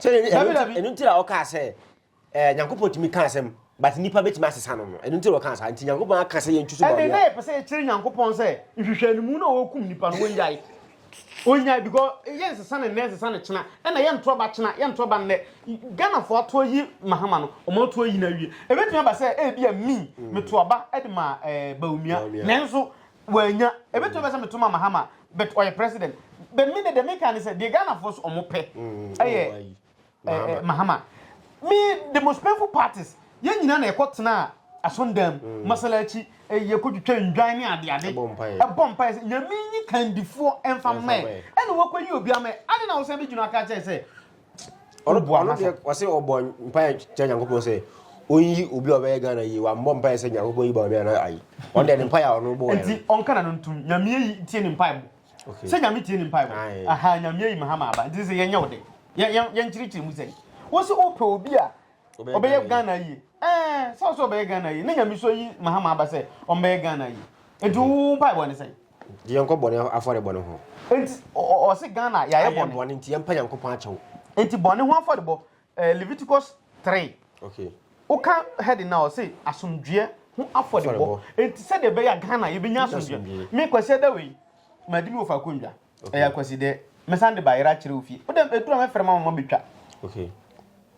Ɛno nti na ɔkaa sɛ eh, Nyankopɔn tumi ka asɛm but nnipa bɛtumi asesa no no ɛno nti na ɔkaa saa nti Nyankopɔn aka sɛ yɛntwi so Bawumia. Ɛne na yɛpɛ sɛ yɛkyerɛ Nyankopɔn sɛ nhwehwɛ no mu na ɔkum nnipa no wɔnyae. Ɔnyae because yɛ nsesa no nnɛ nsesa no kyena ɛna yɛ ntorɔ ba kyena yɛ ntorɔ ba nnɛ Ghana foɔ ato ayi Mahama no ɔmo ato ayi no awie ɛbɛtumi aba sɛ ɛbia me meto aba ɛde ma eh, Bawumia nanso wanya ɛbɛtumi aba sɛ meto ma Mahama but ɔyɛ president but me ne deɛ meka ne sɛ deɛ Ghana foɔ so ɔmo pɛ ɛyɛ ɛɛ mahama me the most painful part is yɛn nyinaa na ɛkɔ tena asɔndan mu mm. masala akyi ɛyɛ kɔ twitwa ndwan ne adeade ɛbɔ mpaeɛ sɛ nyame nyi kandifoɔ ɛmfa mmɛn ɛna wɔkɔ yi obi amɛ ade na wɔsɛn bi gyina aka kyɛn sɛ ɔsɛ ɔbɔ mpaeɛ kyɛ nyankopɔn sɛ ɔnyi obi a ɔbɛyɛ ghana yie wammɔ mpaeɛ sɛ nyankopɔn yi ba ɔmɛ ana ayi ɔno deɛ ne mpaeɛ a ɔno bɔɔ nti ɔnka na no ntom nyame yi tie ne mpaeɛ Okay. Sɛ nyame tie ne mpaebɔ. Aye. Aha nyame ayi me ha ma aba. Nti sɛ yɛnyɛ wo de. Yɛ yɛ yɛnkyerɛkyerɛ mu sɛ. Wo se wopɛ obi a Obɛyɛ ɔbɛyɛ Ghana Ghana yie. Ɛɛ sɛ ɔsɛ ɔbɛyɛ Ghana yie. Ne nyame so ayi me ha ma aba sɛ ɔmbɛyɛ Ghana yie. Nti wo wo mpaebɔ ne sɛn? Nti yɛnkɔ bɔne afɔrebɔ no ho. Nti ɔ- ɔ- ɔse Ghana yɛayɛ Ayɛ bɔne. bɔne nti yɛmpa Nyankopɔn akyɛw. Nti bɔne ho afɔrebɔ. Eh, Leviticus three. Okay. Woka heading na ɔse asomdwoeɛ ho afɔdebɔ. Enti sɛdeɛ ɛbɛyɛ a Ghana yɛbɛnya asomdwoeɛ. Me Kwasi Adawei yi, madi me wɔ faako nnwa. Ɛyɛ akwasi dɛ. Mesan de baayera akyerɛ wo fie. Wodɛ ɛduru a mɛfrɛ ma mama bɛtwa. Okay.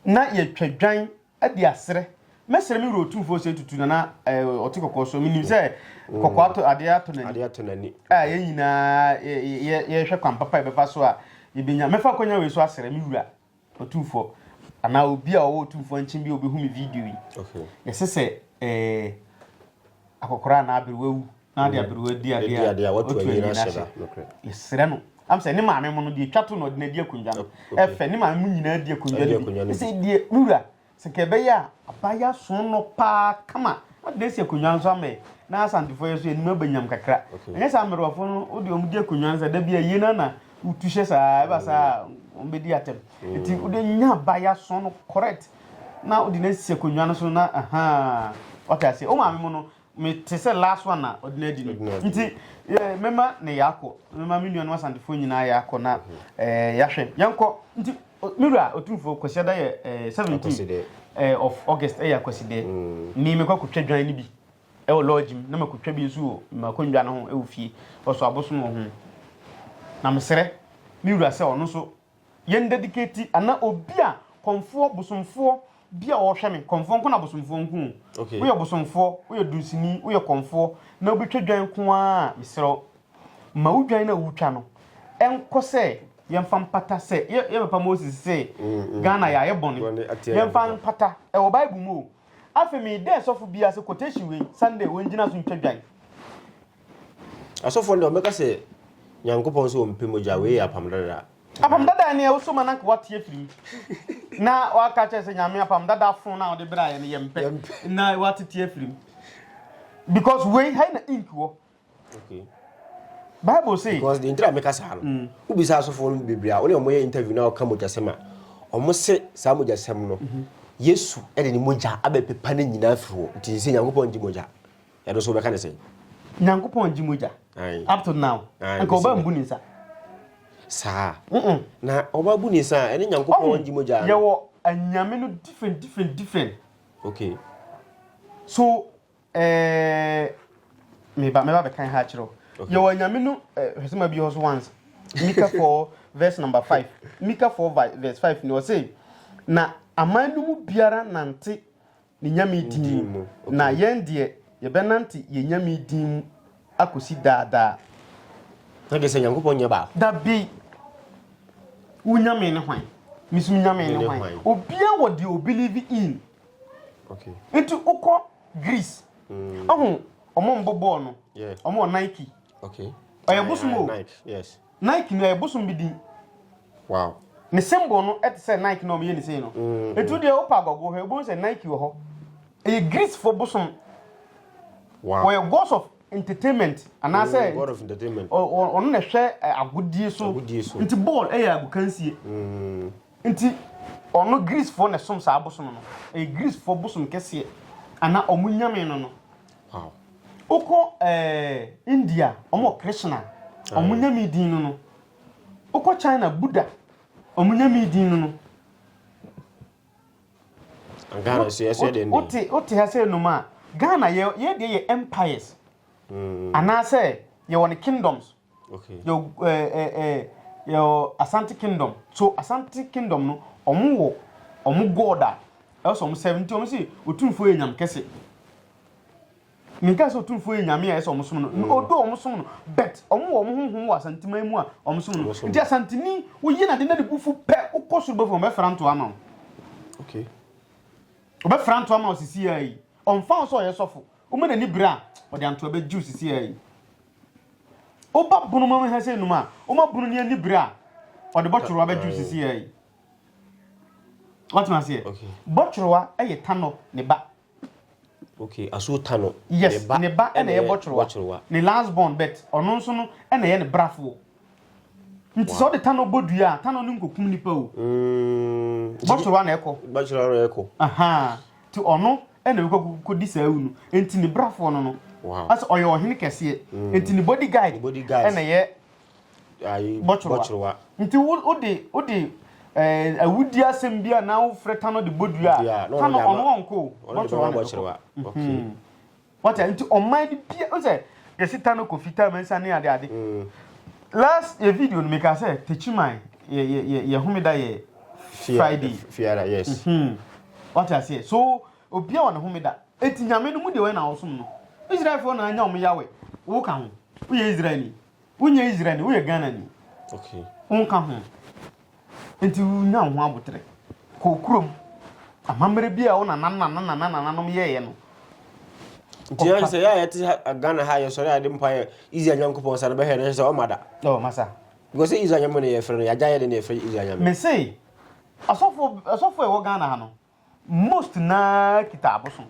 Na yɛtwa dwan adi aserɛ. Mɛsrɛ me wura otumfoɔ sɛ tutu nana eh, ɔte kɔkɔɔ so. Menim sɛ mm. kɔkɔɔ ato adeɛ ato n'ani. Adeɛ ato n'ani. A yɛn nyinaa yɛhwɛ kwan papa yɛbɛfa so a yɛbɛnya. Mɛfa akɔnya wei so aserɛ me wura. Otumfoɔ, anaa obi a ɔwɔ otumfoɔ nkyen bi a obehu me video yi. Yɛse sɛ eh, akɔkora anaa aberewa wu na ade aberewa di adeɛ a, otu anyi no ahyɛ da. Yɛsrɛ no, am sɛ ne maame mo no deɛ etwa to na ɔde no adi akonnwa no, ɛfɛ, ne maame mo nyinaa di akonnwa no bi. Yɛse deɛ, me wura, Sɛ nka ɛbɛyɛ a, aba yi aso no paa kama, adɛn asi akonnwa nso ama yɛ, na Asantefoɔ yi nso yɛn anim aba nyam kakra. Ɛnyɛ saa mmerewafoɔ no, wode wɔn gye akonnwa no sɛ da bi a yie no na wotu hyɛ saa, ɛba saa a, wɔbɛdi atɛm. Nti wode nya aba yi aso no correct, na wode no asi akonnwa no so na ahaa, wate aseɛ. Wo maame mu no, me te sɛ last one na ɔde no adi no nti mɛma ne yɛakɔ mɛma me nuanom asantefoɔ nyinaa yɛakɔ na yɛahwɛ yɛnkɔ nti me wura ɔtumfoɔ kwasiada yɛ 17 of august ɛyɛ akwasidɛ mm. me mekɔ akɔtwa dwan no bi ɛwɔ lodge mu na makɔtwa bi nso wɔ makɔnnwa no ho ɛwɔ fie ɔso abosom wɔ ho na mesrɛ me wura sɛ ɔno nso Yɛn dedicate anaa obi a kɔmfoɔ bosomfoɔ bi a ɔrehwɛ me kɔmfoɔ nko na bosomfoɔ nko o okay. woyɛ bosomfoɔ woyɛ dunsini woyɛ kɔmfoɔ na wobɛtwa dwan nko a mesrɛ ma wo dwan no a wotwa no ɛnkɔ sɛ yɛmfa mpata sɛ yɛbɛpa moses sɛ mm, mm, ghana mm. yɛayɛ bɔne yɛmfa mpata ɛwɔ bible mu o afei meedɛ sɔfo biaa sɛ quotation wei sunday wɔngyina so ntwa dwan Asɔfoɔ no deɛ wɔbɛka sɛ Nyankopɔn sɛ ɔmpɛ mogya, wei yɛ apam dada. Apam dada ne ɛwosɔ ma na nka wate afiri mu na waka kyerɛ sɛ Nyame apam dada fon na wode bra yɛ no yɛ mpɛ na wate te afiri mu because wei hai na ink wɔ okay bible say because the ntira meka saa no mm. wobisa asɔfoɔ no bebree a wone ɔmoyɛ interview na ɔka mogyasɛm a ɔmo se saa mogyasɛm no mhm. yesu de ne mogya abɛpepa no nyinaa firi hɔ nti sɛ nyankopɔn ngye mogya Ɛno nso wobɛka ne sɛn? Nyankopɔn gye mogya. Up to now. Anka ɔba mbu ne nsa. Saa. Na ɔba bu ne nsa a, ɛne Nyankopɔn gye mogya. Yɛwɔ anyame no different different different. Okay. So eh meba meba bɛkan ha akyerɛ. Yɛwɔ anyame no eh, hwɛ sɛ ma bi hɔ so once. Mika 4 verse number 5. Mika 4 verse 5 ni ɔse na aman no mu biara nante Ne Nyame din mu. Na yɛn deɛ, yɛbɛnante Yɛn Nyame din mu akosi daa daa. Na deɛ sɛ Nyankopɔn nyɛ baako. Dabi! Wo Nyame ne hwan? Me so me Nyame ne hwan? Obia wɔ deɛ o believe in. Okay. Nti wokɔ Greece. Mm. Ɔho, ɔmo mbɔ bɔɔl no. Yeah. Ɔmo wɔ Nike. Okay. Ɔyɛ bosom o. Nike, yes. Nike no yɛ bosom bi din. Wow. Ne symbol no te sɛ Nike na wɔyɛ ne sei no. Mm-hmm. Etu deɛ wopa agɔgo hwɛ wobɛhu sɛ Nike wɔ hɔ. Ɛyɛ Greece fo bosom. Wow. Wɔyɛ gods of entertainment anaasɛ mm, god of entertainment. Ɔno na ɛhwɛ eh, agodie so. Agodie so. Nti ball ɛyɛ agokansie. Mm. Nti ɔno Greece foɔ na ɛsom saa bosom no ɛyɛ Greece foɔ bosom kɛseɛ ana ɔmo nyame no no wokɔ ɛɛ India ɔmo Krishna ɔmo nyame din no no wokɔ China Buddha ɔmo nyame din no no Ghana nso yɛ sɛ den wote wote ha sɛ nom a Ghana yɛ yɛ deɛ yɛ empires mm. anaasɛ yɛ wɔn kingdoms Okay. Yɛ ɛɛ eh, ɛɛ eh, yɛ Asante Kingdom. So Asante Kingdom no, wɔn wɔ wɔn God a ɛwɔ sɛ wɔn sɛm nti wɔn si otumfoɔ yɛ nyam kɛse. Minka sɛ otumfoɔ yɛ nyame a ɛsɛ wɔn som no. Mm. Odo wɔn som no, but wɔn wɔ wɔn honhom wɔ Asanteman mu a wɔn som no. Nti Asanteni woyi na de na de bufu pɛ wokɔ soro bɛfo wɔn bɛfra nto ama wo. Okay. Wɔbɛfra nto ama wo sisi ayi. Ɔmfa wo sɛ ɔyɛ sɔfo. Woma n'ani bere a wɔde antoa bɛgye wo sisi ayi. Woba bunu mu hɛ sɛ num a, woma bunu ne ani bere a ɔde bɔtworowa bɛdwo sisi yɛ yi. Wɔtena aseɛ. Bɔtworowa yɛ tanɔ ne ba. Okay, aso tanɔ. Yes, ne ba ɛna yɛ bɔtworowa. Ne last born bet ɔno nso no ɛna yɛ ne brafoɔ. nti sɛ ɔde tanɔ bɔ dua a tanɔ no nkɔkum nipa o mm. bɔtwerɛ ana ɛkɔ bɔtwerɛ ana ɛkɔ nti ɔno ɛna ɛkɔkɔdi saa awu no nti ne brafoɔ no no asɛ ɔyɛ ɔhene kɛseɛ mm. nti ne body guide ɛna yɛ bɔtwerɛ nti wode wode eh, awudi asɛm bi a na wofrɛ tanɔ de bɔ dua a tanɔ ɔno ɔnkɔ bɔtwerɛ ana ɛkɔ Wate a nti ɔman no bia nsɛ yɛsi ta no kɔ fitaa mɛnsa ne ade ade last yɛ video no meka sɛ techiman yɛ yɛ yɛ yɛ homeda yɛ Friday fiara yes mm-hmm. wate aseɛ so obia wɔ ne homeda eti nyame no mu deɛ wɔyɛ na wɔsom no Israelfoɔ na anya wɔn yawe wo ka ho woyɛ Israelni Wonyɛ Israelni, woyɛ Ghanani. Wonka ho. Enti nya wo ho aboterɛ. Kɔ kurom. Amammerɛ bi a wo nananananananom yɛeɛ no. Nti yɛn sɛ yɛ a yɛte Ghana ha yɛ sɔre a yɛde mpa yɛ Israel Nyankopɔn sa no bɛhwɛ no sɛ ɔma da. Ɔ masa. Because Israel nyame na yɛfrɛ no yɛagya yɛ de na yɛfrɛ Israel nyame. Mese asɔfo asɔfo a ɛwɔ Ghana ha no Most na kita abosom.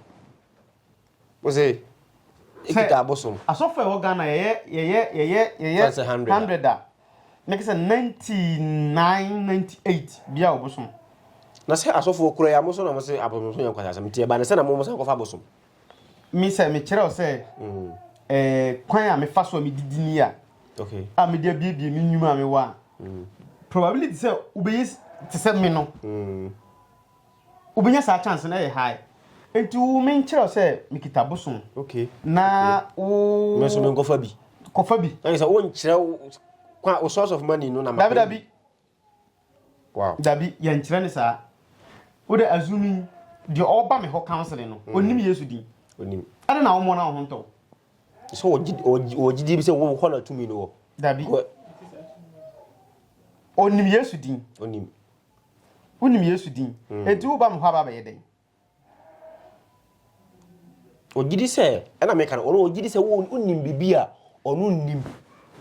Ose ekita abosom. Asɔfo a ɛwɔ Ghana yɛyɛ yɛyɛ yɛyɛ yɛyɛ hundred a na kisa ninety nine ninety eight bia obosom. Na sɛ asɔfo kura ya mo so na mo se abosom so yɛ nkwasasɛm nti ɛba ne sɛ na mo mo san kɔfa abosom. me sɛ mekyerɛ wo sɛ mm. eh, kwan a mefa so a medidi ni a okay. a mede abiebie me nnwuma a mewɔ a mm. probability sɛ wobɛyɛ te sɛ me no mm. wobɛnya saa chance no ɛyɛ high nti wo menkyerɛ wo sɛ mekita bosom okay. na okay. wo me so menkɔfa bi kɔfa bi ɛne sɛ wonkyerɛ wo source of money no na dabidabi Wow. Dabi, yɛnkyerɛ ne saa. Wode assuming deɛ ɔba me hɔ counseling no, mm. onim Yesu din. Onim. Ɛna na wɔn na wɔn ho ntɔ. So wɔgyidie bi sɛ wɔn hɔ na tumi no wɔ. Dabi. Onim Yesu din. Onim. Wonim Yesu din. Mm. Eti woba me hɔ aba bɛyɛ dɛn? Ɔgye di sɛ, ɛna meka no, ɔno ɔgye di sɛ wonim biribi a ɔno nnim.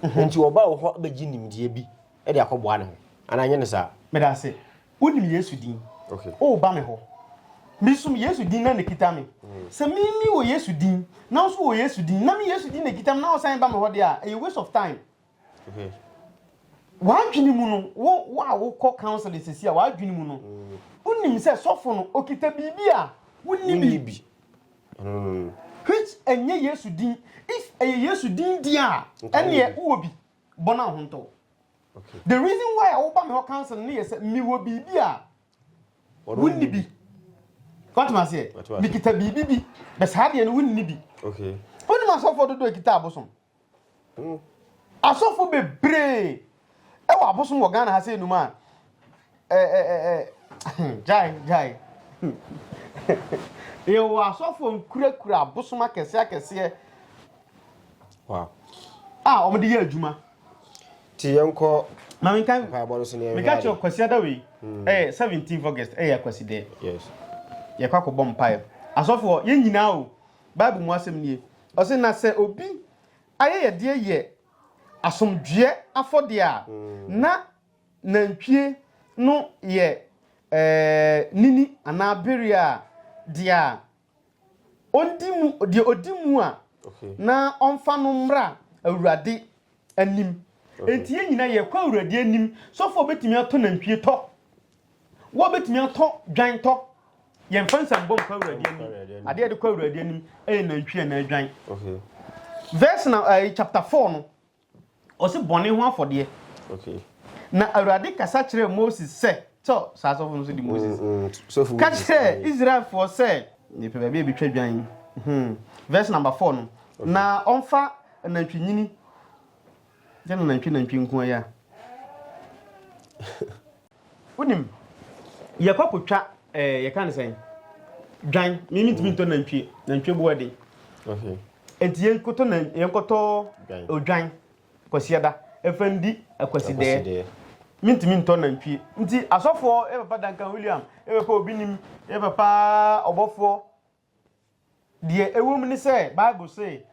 Mhm. Nti ɔba wo hɔ bɛgye nimdeɛ bi de akɔboa ne ho. Anaa nyɛ ne saa? Meda ase. Wonim Yesu din. Okay. Woba me hɔ. Mesom Yesu din na ne kita me. Mm. Sɛ me me wɔ Yesu din, na nso wɔ Yesu din, na me Yesu din na kita me na wosan ba me hɔ de a, ɛyɛ waste of time. W'adwene mu no, wo wo a wokɔ counseling sisi a, w'adwene mu no, wonim sɛ sɔfo no okita biribi a wonni bi. Which ɛnyɛ Yesu din. If ɛyɛ Yesu din di a, ɛneɛ wowɔ bi. Bɔ no ahontɔ. The reason why a woba me hɔ counseling no yɛ sɛ mewɔ biribi a wonni bi. Wate ma seɛ? Mekita biribi bi. Bɛ saa deɛ no wonni bi. Wonim asɔfoɔ dodoɔ a ɛkita abosom? Asɔfo bebree wɔ abosom wɔ Ghana ha sɛ enum a ɛ ɛ ɛ ɛ gyae gyae. Yɛwɔ asɔfo nkurakura abosom akɛse akɛseɛ a wɔde yɛ adwuma. Ti yɛn kɔ ma menka mpaebɔ no so ne yɛn hwɛ ade. Meka kyerɛ Kwasi Adawe ɛyɛ hmm. seventeenth August ɛyɛ Kwasi dɛ. Yes. Yɛkɔ akɔbɔ mpae. Asɔfoɔ yɛn nyinaa o Bible mu asɛm nie. Ɔse na sɛ obi ayɛyɛdeɛ yɛ asomdwoeɛ afɔdeɛ a, na nantwie no yɛ nini anaa bereɛ a deɛ a ɔndi mu, deɛ ɔdi mu a na ɔmfa no mmra Awurade anim. Enti yɛn nyinaa yɛkɔ Awurade anim. Sɔfoɔ bɛtumi atɔ nantwie tɔ. Wɔ bɛtumi atɔ dwan tɔ. Yɛmfa nsambɔ nkɔ Awurade anim. Adeɛ yɛde kɔ Awurade anim ɛyɛ nantwie anaa dwan. Verse na uh, chapter four no, ɔsi bɔne ho afɔdeɛ. Okay. Na Awurade kasa kyerɛɛ Moses sɛ, sɛ saa sɔfo no so di Moses. Mm, mm, ka kyerɛɛ Israelfoɔ sɛ, mepɛ baabi a ɛbɛtwa dwan. Hmm. Verse number four no, na ɔmfa Anantwinini ne nanantwi nantwi nko ara yi a. Wonim, yɛkɔ kotwa ɛɛ yɛka ne sɛn dwan mimi ntumi ntɔ nantwie nantwie bu ɛden nti yɛnkɔtɔ na yɛnkɔtɔ odwan kwasiada ɛfɛ ndi akwasideɛ mintumi ntɔ nantwie nti asɔfoɔ ɛbɛpa dankan william ɛbɛpa obi nim ɛbɛpa ɔbɔfoɔ Deɛ ɛwom ne sɛ, Bible se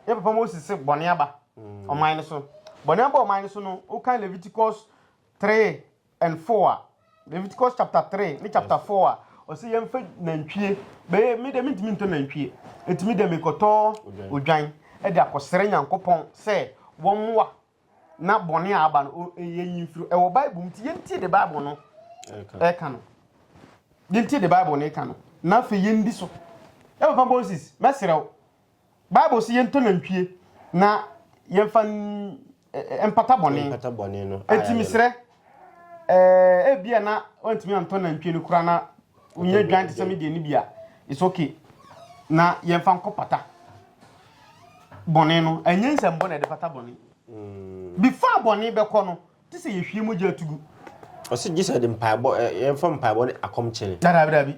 yɛn papa Moses se bɔne aba mm. ɔman no so. Bɔne aba ɔman no so no, wokan Leviticus 3 and 4 a, Leviticus chapter 3 ne chapter 4 a, ɔse yɛmfa nantwie bɛyɛ me dɛ mentumi ntɔ nantwie ɛtumi dɛ mekɔtɔ odwan de akɔsrɛ nyankopɔn sɛ wɔmmoa na bɔne a aba no yɛnyi mfiri ɛwɔ bible mu nti yɛntie de bible no ɛka no yɛntie de bible no ɛka no na afei yɛndi so ɛwɔ papa moses mɛserɛ wo bible sɛ yɛntɔ nantwie na yɛmfa mpata bɔne ɛti mesrɛ Eh, ebia na wantumi antɔ nantwie no kura na wonya dwan te sɛ me deɛ no bi a it's okay na yɛmfa nkɔ pata bɔne no ɛnyɛ nsɛmbɔ na ɛde fata bɔne mm. before bɔne bɛkɔ no te sɛ yɛhwie mogya atugu ɔsɛ gye sɛ de mpaebɔ yɛmfa mpaebɔ ne akɔmkyere dadabidabi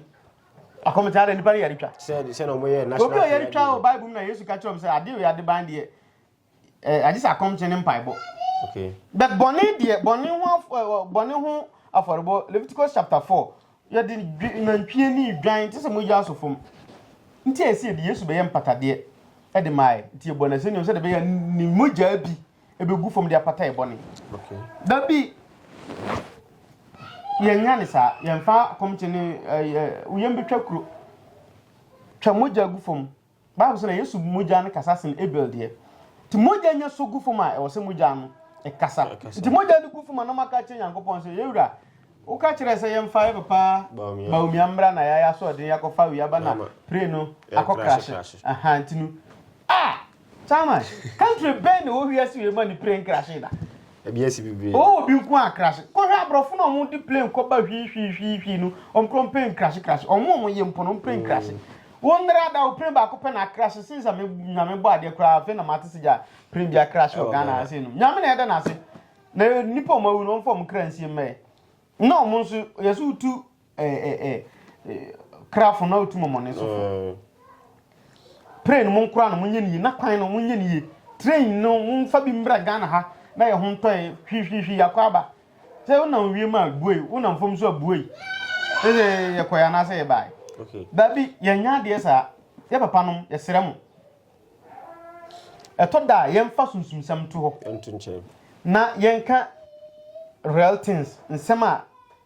akɔmkyere ada nnipa no yɛretwa obi a yɛretwa wɔ bible mu na yesu ka kyerɛ m sɛ adeɛ wei adeban deɛ Eh, agye sɛ akɔmkyene ne mpaebɔ. Okay. But bɔne deɛ, bɔne ho af- eh, eh, bɔne ho afɔrebɔ, Leviticus chapter 4, yɛde dwe- nantwie ne dwan te sɛ mogya aso fam. Nti a ɛsɛ yɛde Yesu bɛyɛ mpatadeɛ ɛde maae. Nti yɛbɔ no asɛnnua mu sɛdeɛ ɛbɛyɛ a ne mogyaa bi ɛbɛgu fam de apata yɛ bɔne. Okay. Da bi, yɛnya ne saa, yɛmfa akɔmkyene ne eh, eh, woyam bɛtwa kuro, twa mogya gu fam. Bible sɛ na Yesu mogya no kasa sen Abel deɛ. Nti mogya nya so gu fam a ɛwɔ sɛ mogya no ɛkasa. Nti mogya no gu fam a na ɔmaka akyerɛ Nyankopɔn sɛ yɛwura woka kyerɛ sɛ yɛmfa yɛ papa baomia mbra na yɛayɛ asoɔden yɛakɔfa wei aba na pray no akɔ krahye. Aha nti no ah chairman country bɛn na ɛwɔ wiase wei ma ne pray nkrahye da. Ɛbi asi bebree. Ɔwɔ obi nko a krase. Kɔhwɛ abrɔfo na ɔmo de plane kɔ ba hwii hwii hwii hwii no ɔmo kura ɔmo plane krase krase ɔmo ɔmo ye mpo no ɔmo plane krase. Wo nnra da wo plane baako pɛ na akrase since a me nyame bɔ adeɛ koraa afei na mate se gya plane bi akrase wɔ Ghana ha sei nom. Nyame na yɛda no ase. Na nipa ɔmo awu no ɔmfa ɔmo kra nsie mmɛɛ. Na ɔmo nso yɛse wotu krafo na otu mɔmɔne so fo mm. plane no monkora no monyɛ no yie na kwan no monyɛ no yie train no momfa bi mmra ghana ha na yɛ ho ntɔe hwihwihwi yɛakɔ aba sɛ wonam wiem a buei wonam fam so a buei ɛsɛ yɛkɔɛ anaasɛ yɛbae daabi yɛnyɛ adeɛ saa yɛ papa nom yɛserɛ mo ɛtɔ da a yɛmfa sunsumsɛm to hɔ na yɛnka real things nsɛm a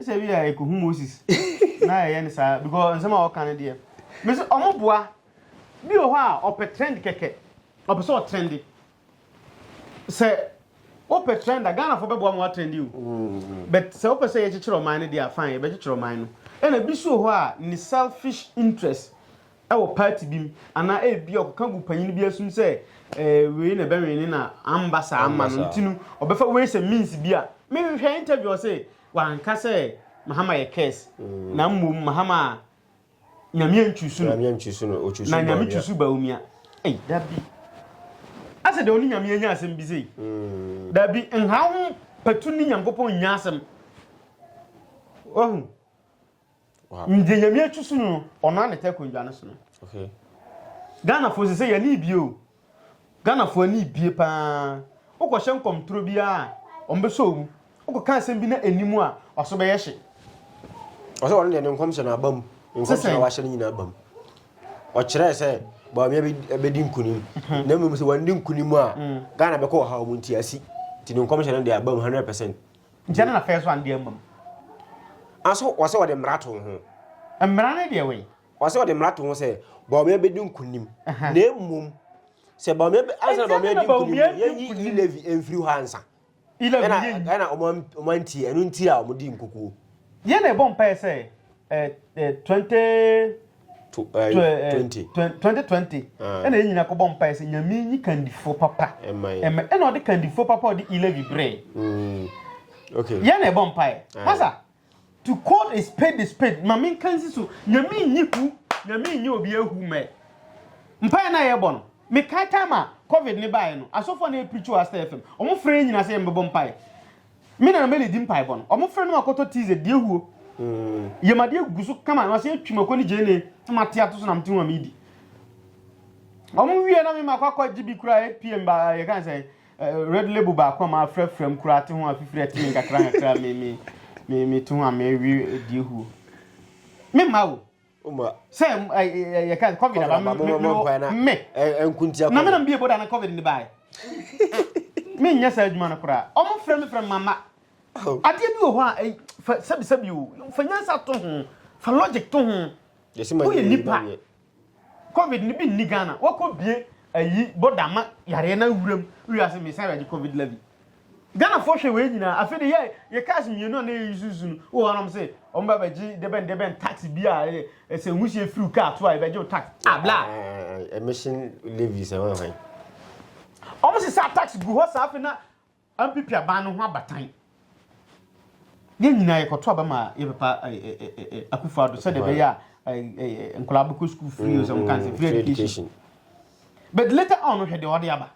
sɛ bi a ɛkɔhu moses na ɛyɛ ne saa because nsɛm a ɔka no deɛ me sɛ ɔmo boa bi wɔ hɔ a ɔpɛ trend kɛkɛ ɔpɛ sɛ ɔtrɛnde sɛ wopɛ trend a ghanafoɔ bɛboa mo atrɛnde o mm. but sɛ wopɛ sɛ yɛkyekyerɛ ɔman no deɛ afan yɛbɛkyekyerɛ ɔman no ɛna bi so wɔ hɔ a ne selfish interest wɔ party bi mu anaa ebi a ɔkeka gu panyin bi asum sɛ ɛɛ wei na ɛbɛwɛn ne na amba saa ama no nti no ɔbɛfa wei sɛ means bi a mehwɛ interview ɔse wanka sɛ mahama yɛ curse mm. na mmom mahama a nyame antwusu no na nyame twusu baomia ei dabi asɛ deɛ ɔne nyame anya asɛm bi sei mm. dabi nhaw ho patu ne nyankopɔn nya asɛm wahu Ndze Nyame etu so no ɔno anetɛ akondwa no so no. Ghana foɔ sesei yɛne bie o. Ghana foɔ ne bie paa. Wokɔ hyɛ nkɔm turo biara a ɔmo bɛsɔ omu. Wokɔ ka asɛm bi na ɛni mu a waso bɛyɛ hye. Ɔsɛ ɔno deɛ ne nkɔm hyɛ no aba mu. Nkɔm hyɛ no wahyɛ no nyina aba mu. Ɔkyerɛɛ sɛ Bawumia bɛdi nkunim. Na mmom sɛ wandi nkunim a Ghana bɛkɔ ɔhaw mu nti asi. Nti ne nkɔm hyɛ no deɛ aba mu 100%. Nkyɛ na n'afɛɛ so a nde amam. Nso ɔse ɔde mmara too ho. Mmara ne deɛ wei? Ɔse ɔde mmara too ho sɛ Bawumia bɛdi nkunim. Na mmom sɛ Bawumia bɛ, ansa na Bawumia adi nkunim no, yɛnyi E-Levy mfiri hɔ ansa. E-Levy no yɛnyi. Ɛna, ɛna wɔn, wɔn antie, ɛno nti a wɔn dii nkukuo. Yɛn na yɛbɔ mpaeɛ sɛ, eh, eh, 20. 2020 2020 ɛna yɛn nyinaa kɔbɔ mpae sɛ nyame nyi kandifoɔ papa ɛma ɛna ɔde kandifoɔ papa ɔde ilavi brɛ mm. okay yɛn na ɛbɔ mpae pasa to call a spade a spade ma menka nsi so nyame nyi hu nyame nyi obi ahu mɛ mpae na yɛbɔ no mekae time a covid ne baeɛ no asɔfoɔ na ɛpirikyi wɔ asɛ fam ɔmo frɛ nyina sɛ yɛmbɛbɔ mpae Me na na me ledi mpaebɔ no. Ɔmo frɛ no ma kɔtɔ tii dze di ehuo. Yɛmadi egugu so kama na ɔsɛ etwi mako ne gyeene na mate ato so na mete ho a medi. Ɔmo wie na me ma kɔ akɔ gye bi kura APM ba yɛ kan sɛ red label baako a mafrɛ frɛ mu kura te ho a fifiri ate me nkakra nkakra me me me te ho a mewe di ehuo. Me ma o. Uma. Sɛ yɛ ka covid aba me me me. Ɛnkuntia. Na me na mbie boda na covid ne bae. Me nyɛ saa adwuma no koraa. Ɔmo frɛ me frɛ mama. Oh. Adeɛ bi wɔ hɔ a fa sɛbi sɛbi o. Fa nyansa to ho. Fa logic to ho. Woyɛ nipa. Covid ne bi nni Ghana. Wɔkɔ bie ayi boda ma yareɛ na wuram. Wiase me sɛ yɛgye covid levy. Ghanafoɔ hwɛ wei nyinaa afei de yɛ yɛ cars mmienu a na yɛyi susu no wɔ hɔ nom se wɔn ba bɛgye debɛn debɛn tax bi a ɛsɛ nhusie firi car to a yɛbɛgye wo tax ah bla emission levies ɛwɔ hwan wɔn se saa tax gu hɔ saa afei na MPP aban no ho abatan yɛn nyinaa yɛkɔto aba ma yɛbɛpa akufo ado sɛdeɛ ɛbɛyɛ a nkwadaa bɛkɔ school free o sɛ wɔn kan sɛ free education but later on hwɛ deɛ ɔde aba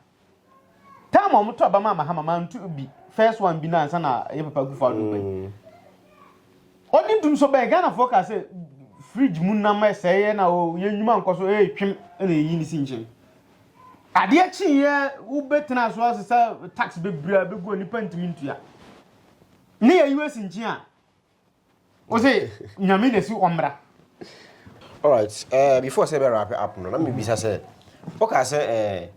Time a wɔn to aba maa mahama maa ntu bi first one bi na ansa na ɛyɛ papa kufu ado bɛn. Mm. Ɔdi ntum so bɛn Ghana fo ka sɛ fridge mu nam ɛsɛ yɛ na o yɛ nnwuma nkɔ so ɛyɛ twem ɛna eyi ne si nkyɛn. Adeɛ kyi yɛ wobɛtena so ase sɛ tax bebree bɛgu a nipa ntumi ntua. Ne yɛ US nkyɛn a. o se nyame na si ɔmmra alright eh, before sɛ bɛ wrap up no na mebisa sɛ woka sɛ eh,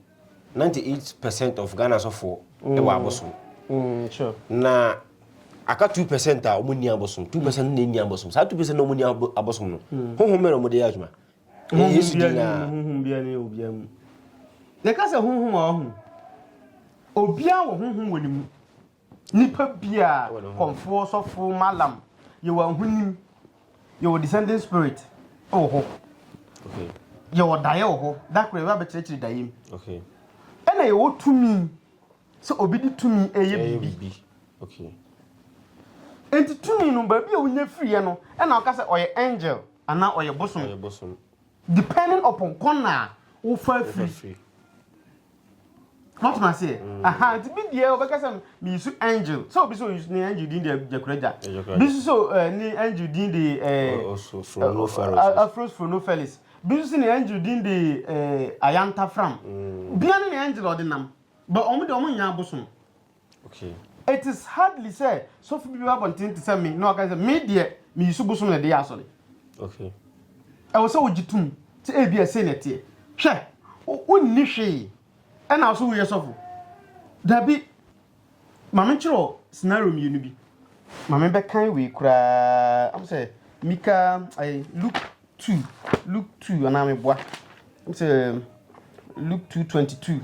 98 percent of ghana sɔfoɔ mm. ɛwɔ abosom mm, sure. na aka 2 percent a ɔmo ni abosom 2 percent mm. na ɛni abosom saa 2 percent na ɔmo ni abosom no mm. honhom mmerɛ ɔmo de yɛ adwuma ɛyɛ yesu di na honhom bia ne obia mu yɛka sɛ honhom a ɔho obia wɔ honhom wɔ ne mu Nipa bia kɔmfoɔ sɔfoɔ malam yɛwɔ ahonim yɛwɔ descending spirit wɔ hɔ yɛwɔ daeɛ wɔ hɔ da korɔ yɛbɛ abɛkyerɛkyerɛ daeɛ mu ɛna yɛwɔ tumi sɛ obi de tumi ɛyɛ biribi nti tumi no baabi a wonya firiɛ no ɛna ɔka sɛ ɔyɛ angel anaa ɔyɛ bosom depending upon kɔna a wofa firi Mọtò ase ẹ. Mm. Aha nti bi deɛ ɔbɛka sɛ meyi so angel sɛ obi sɛ oyi ne angel din deɛ gyakuragya bi nso sɛ eh, ne angel din de eh, oh, oh, eh, afros frono felix bi nso sɛ ne angel din de eh, ayanta fram mm. bia ne ne angel ɔde nam ba ɔmo deɛ ɔmo nyɛ abosom It is hardly sɛ sɔfo bi bɛba abɔnten te sɛ me na waka sɛ me deɛ meyi so bosom na ɛde yɛ asɔre. Ɛwɔ sɛ wogye tom sɛ ebi ɛsei na ɛteɛ. Hwɛ, wonni hwee ɛna wo so woyɛ sɔfo. Dabi, ma me nkyerɛ scenario mmienu bi. Ma me bɛkan wei koraa. Am sɛ Mika, Luke two luke two anaa meboa ɛm sɛ luke two twenty two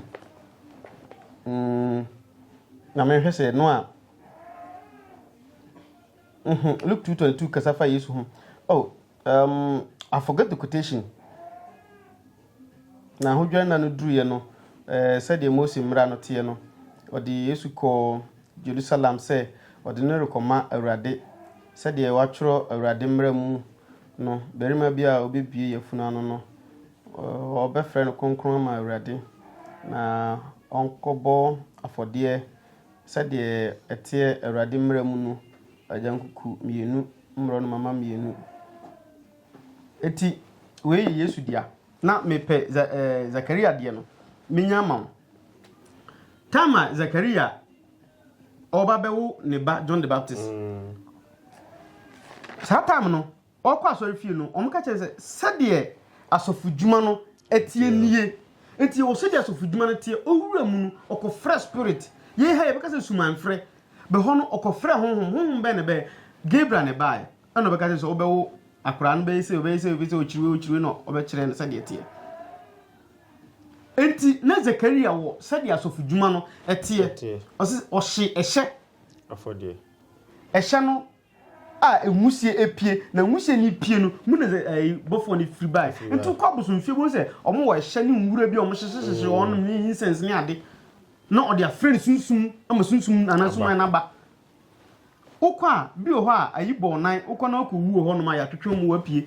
mm, na mehwɛ sɛ no a mhm, luke two twenty two kasa fa yesu ho oh um, i forget the quotation na ahodwa nna no duruiɛ no eh, sɛdeɛ mose mmara no teɛ no ɔde yesu kɔɔ jerusalem sɛ ɔde no rekɔma awurade sɛdeɛ wɔatwerɛ awurade mmara mu No, barima bi a ɔbɛbue yafunu ano no, wɔbɛfrɛ no kronkron ama Awurade, na ɔnkɔbɔ afɔdeɛ sɛdeɛ ɛteɛ Awurade mmara mu no, agyankuku mmienu, mmorɔnoma mma mmienu. Eti, wei yɛ Yesu dea. Na mepɛ Za ɛɛ Zakaria deɛ no, menya ama wo. Time a Zakaria. ɔreba bɛwo ne ba John the Baptist. Saa time no, ɔkɔ asɔre fie no, wɔn ka kyerɛ sɛ sɛdeɛ asɔfodwuma no tie nie. Nti wɔ sɛdeɛ asɔfodwuma no tie, owura mu no, ɔkɔfrɛ spirit. Yei ha yɛbɛka sɛ sumanfrɛ. Bɛhɔ no, ɔkɔfrɛ honhom. Honhom bɛn na ɛbɛɛ? Gabriel na ɛbaeɛ. Ɛna ɔbɛka kyerɛ sɛ wobɛwo akwaraa no bɛyɛ sɛ ɔbɛyɛ sɛ ɔbɛyɛ sɛ ɔkyiriwe ɔkyiriwe na ɔbɛkyerɛ no sɛdeɛ teɛ. Enti, na Zekaria wɔ sɛdeɛ asɔfodwuma no teɛ. Ɔse ɔhye ɛhyɛ. Afɔdeɛ. Ɛhyɛ no a nwusie apue, na nwusie no pue no, mu na bɔfoɔ no firi bae. Nti wokɔ abosomfie bɛhu sɛ wɔn wɔ ɛhyɛ ne nwura bi a wɔn hyehyehyehye wɔn nom ne incense ne ade. Na ɔde afrɛ no sunsum ama sunsum anaa suman n'aba. Wokɔ a bi wɔ hɔ a ayi bɔ ɔnan, wokɔ na wakɔ wu wɔ hɔ nom a yɛatwetwe mu wapue.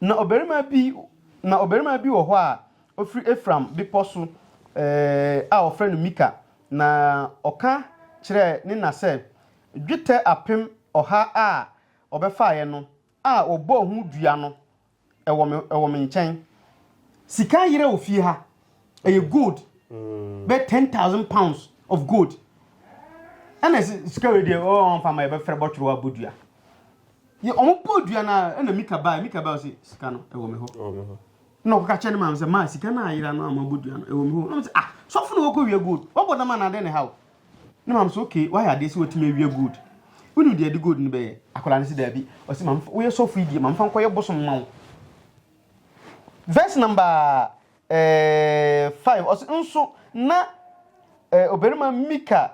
Na ɔbarima bi, na ɔbarima bi wɔ hɔ a ɔfiri Efraim bepɔ so a wɔfrɛ no Mika, na ɔka kyerɛɛ ne na sɛ, Dwetɛ apem ɔha a wɔbɛfaeɛ no a wɔbɔɔ ho dua no wɔ me nkyɛn. Sika yerɛ wɔ fie ha. ɛyɛ gold mm. bɛ ten thousand pounds of gold ɛna sika wei deɛ ɔɔ nfa ma yɛbɛfrɛ bɔtwerɛ abɔ dua yɛ ɔmo bɔ dua na ɛna mika baa mika baa ɔsi sika no ɛwɔ mi hɔ na ɔkɔka kyɛ ne maame sɛ maa sika no ayera no ama bɔ dua no ɛwɔ mi hɔ na ɔmo sɛ ah sɔfo na wɔkɔ wia gold wɔbɔ dama na adɛn ne ha o ne maame sɛ okay wayɛ adeɛ sɛ wɔtumi awia gold wone deɛ de gold no bɛyɛ akwadaa no sɛ daabi ɔsi maame woyɛ sɔfo yi deɛ maame fa nkɔyɛ bosom ma wo verse number eh, five ɔsi nso na eh, ɔbarima mika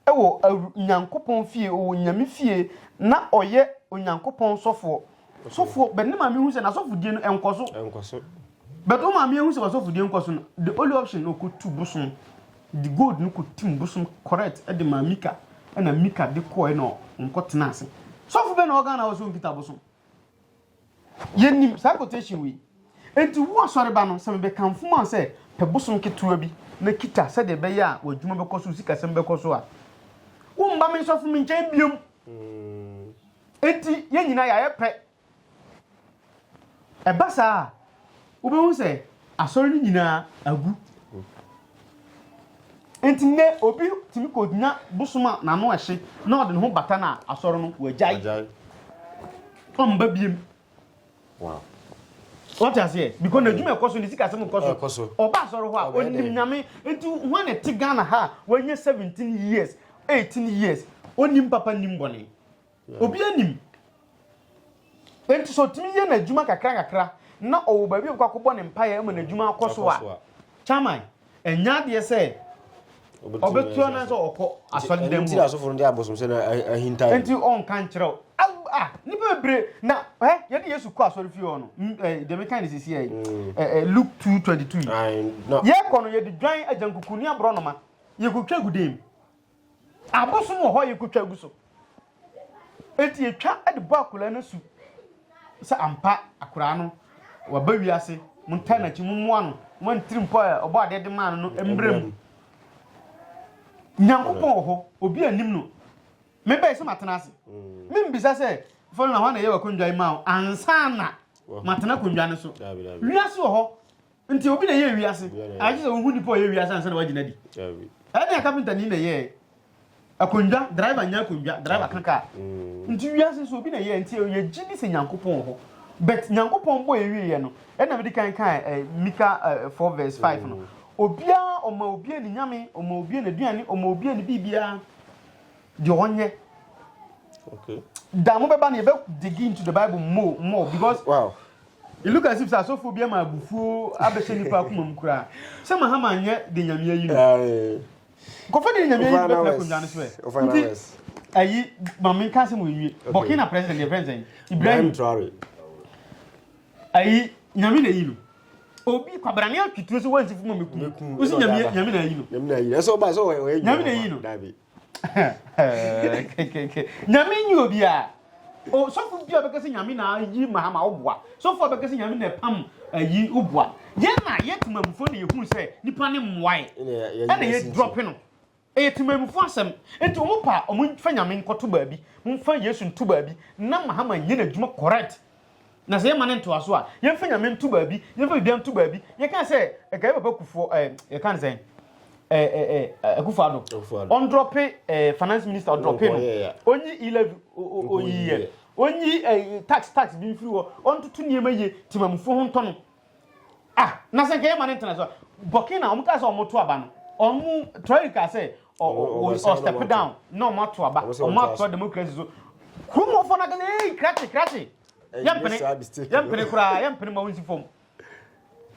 wɔ nyankopɔn fie ɔwɔ nyame fie na ɔyɛ onyankopɔn sɔfoɔ sɔfoɔ bɛne maame hu sɛ n'asɔfodie no ɛnkɔ so ɛnkɔ so bɛtɔ maame hu sɛ wasɔfodie nkɔ so no the only option na ɔkɔtu bosom de gold no kɔtim bosom correct de maa mika ɛna mika de kɔɛ na ɔnkɔtena ase sɔfo bɛ na ɔgana wɔ so nkita bosom Yɛnnim saa quotation wei. Enti wo asɔre ba no, sɛ mebɛkamfo ma wo sɛ pɛ bosom ketewa bi na kita sɛdeɛ ɛbɛyɛ a w'adwuma bɛkɔ so, wo sikasɛm bɛkɔ so a, womma me nsɔfo me nkyɛn biom. Enti yɛn nyinaa yɛayɛ pɛ. Ɛba saa a, wobɛhu sɛ asɔre no nyinaa agu nti nnɛ obi tumi kɔgyina bosom a n'ano ɛhye na ɔde ne ho bata no a asɔre no wagyae ɔmba biem wɔte aseɛ because n'adwuma ɛkɔ so ne sikasɛm ɛkɔ so ɔba asɔre hɔ a ɔnim nyame nti ho a na ɛte ghana ha a wanya 17 years 18 years ɔnim papa nim bɔne Obi anim. Enti sɛ ɔtumi yɛ n'adwuma kakra kakra na ɔwɔ baabi a ɔbɛkɔ akɔbɔ ne mpaeɛ ma n'adwuma akɔ so a, kyaman, ɛnyɛ adeɛ sɛ ɔbɛtu anan sɛ ɔkɔ asɔre dan mu. Nti asɔfo no de abosomsɛ na ahinta. Nti ɔnka nkyerɛ wo. Ah, nipa bebree na ɛ yɛde Yesu kɔ asɔre fie hɔ no. Deɛ meka ne sisi yɛ Luke 2:22. Yɛkɔ no yɛde dwan agyankuku ne aborɔnoma yɛkɔtwa gu dan mu. Abosom wɔ hɔ a yɛkɔtwa gu so. Enti yɛtwa de bɔ akwadaa no asu sɛ ampa akwadaa no waba wiase, montaa n'akyi, mommoa no, ma ntirimpɔ a ɔbɔ adeɛ de maa no no mmra mu. Nyankopɔn wɔ hɔ, obi anim no. Mebɛyɛ sɛ matena ase. Membisa sɛ fɔlɔ na hɔ na ɛyɛ wakondwa yi ma wo ansa na matena kondwa no so. Wiase wɔ hɔ, Nti obi na ɛyɛɛ wiase? Anaa gye sɛ wohu nnipa a wɔyɛɛ wiase ansa na wɔagye no adi? Ɛyɛ nea kapentani na ɛyɛe. Akonnwa, driver nyɛ akonnwa, driver ka kaa. Nti wiase nso obi na ɛyɛe. Nti yɛgye di sɛ Nyankopɔn wɔ hɔ. But Nyankopɔn bɔ yɛn wieɛ no, ɛna mede kan kaa eh, Mika eh, 4 verse 5 no. Obiara ɔma obiara ne nyame, ɔma obiara n'aduane, ɔma obiara ne biribiara deɛ ɔnyɛ. Okay. Da mobɛba no yɛbɛ dig into the Bible more, more because wow. It look as if sɛ asɔfoɔ bi ama abufuo abɛhyɛ nipa akoma mu koraa sɛ Mahama nyɛ de nyamea yi no nkɔfo de nyamea yi bɛtena akonnwa no so ɛ nti ayi maame nka asɛm wɔnwie Burkina president yɛ friend sɛn Ibrahim Traore ayi nyame na yi no obi kwabrane atwituro sɛ wansi fuma meku wosi nyame nyame na yi no nyame na yi no ɛsɛ ɔba sɛ ɔyɛ nyame na yi no nyame nyi obia o sɔfo bi a bɛka sɛ nyame na ayi mahama woboa sɔfo a bɛka sɛ nyame na ɛpam ayi woboa yɛn na yɛ temamufoɔ na yɛhunu sɛ nipa ne mmoae ɛna yɛ drɔpe no ɛyɛ temamufoɔ asɛm nti ɔmo pa ɔmo fa nyame nkɔto baabi momfa yesu nto baabi na mahama nyɛ n'adwuma correct Na sɛ yɛma no ntoaso a, yɛmfa nyame nto baabi, yɛmfa biribiara nto baabi. Yɛka sɛ ɛkae papa kufoɔ ɛɛ yɛka no sɛn ɛɛ ɛɛ akufo ado ɔndrɔpe ɛɛ finance minister ɔdrɔpe no onyi e-levy oyi yɛ onyi ɛɛ tax tax bi mfiri hɔ ɔntoto nneɛma yie timamufoɔ ho ntɔ no. Ah, na sɛ nka yɛma no ntena so. Burkina, wɔn kaa sɛ wɔn to aba no, wɔn Traore kaa sɛ ɔ ɔ ɔ step down na wɔn ato aba, wɔn ato democracy so. Kurumɔfo na kɛse, ee krakye krakye, yɛmpene yɛmpene koraa yɛmpene ma wɔn si fam.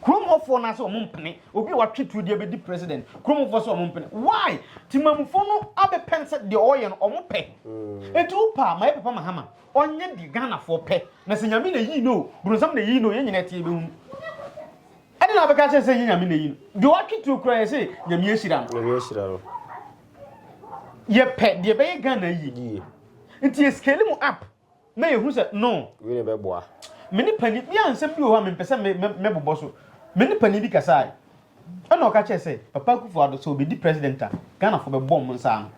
Kurumɔfo na sɛ wɔn mpene, obi a watwe tuo deɛ bɛdi president, kurumɔfo sɛ wɔn mpene. Why? Timamufo no abɛpɛn sɛ deɛ ɔyɛ no wɔn pɛ. Eti wo pa ma yɛ papa ma hama. Ɔnyɛ deɛ Ghanafoɔ pɛ. Na sɛ Nyame na ɛyii no o, bronsam na ɛyii no o, yɛn nyinaa ɛteɛ bɛhunu. Ɛde na abɛka kyerɛ sɛ ɛnyɛ Nyame na ɛyii no. Deɛ ɔatwe tuo koraa yɛ sɛ Nyame ahyira no. Nyame ahyira no. Yɛpɛ deɛ ɛbɛyɛ Ghana yie. Yie. Nti yɛ scale mu up na yɛhu sɛ no. Wei na ɛbɛboa. Me ne pani, me a nsɛm bi wɔ hɔ a mempɛ sɛ mɛbobɔ so. Me ne pani bi kasae. Ɛna ɔka kyerɛ sɛ, Papa Akufo-Addo sɛ ɔbɛdi president a, Ghanafoɔ bɛbɔ wɔn nsa ano.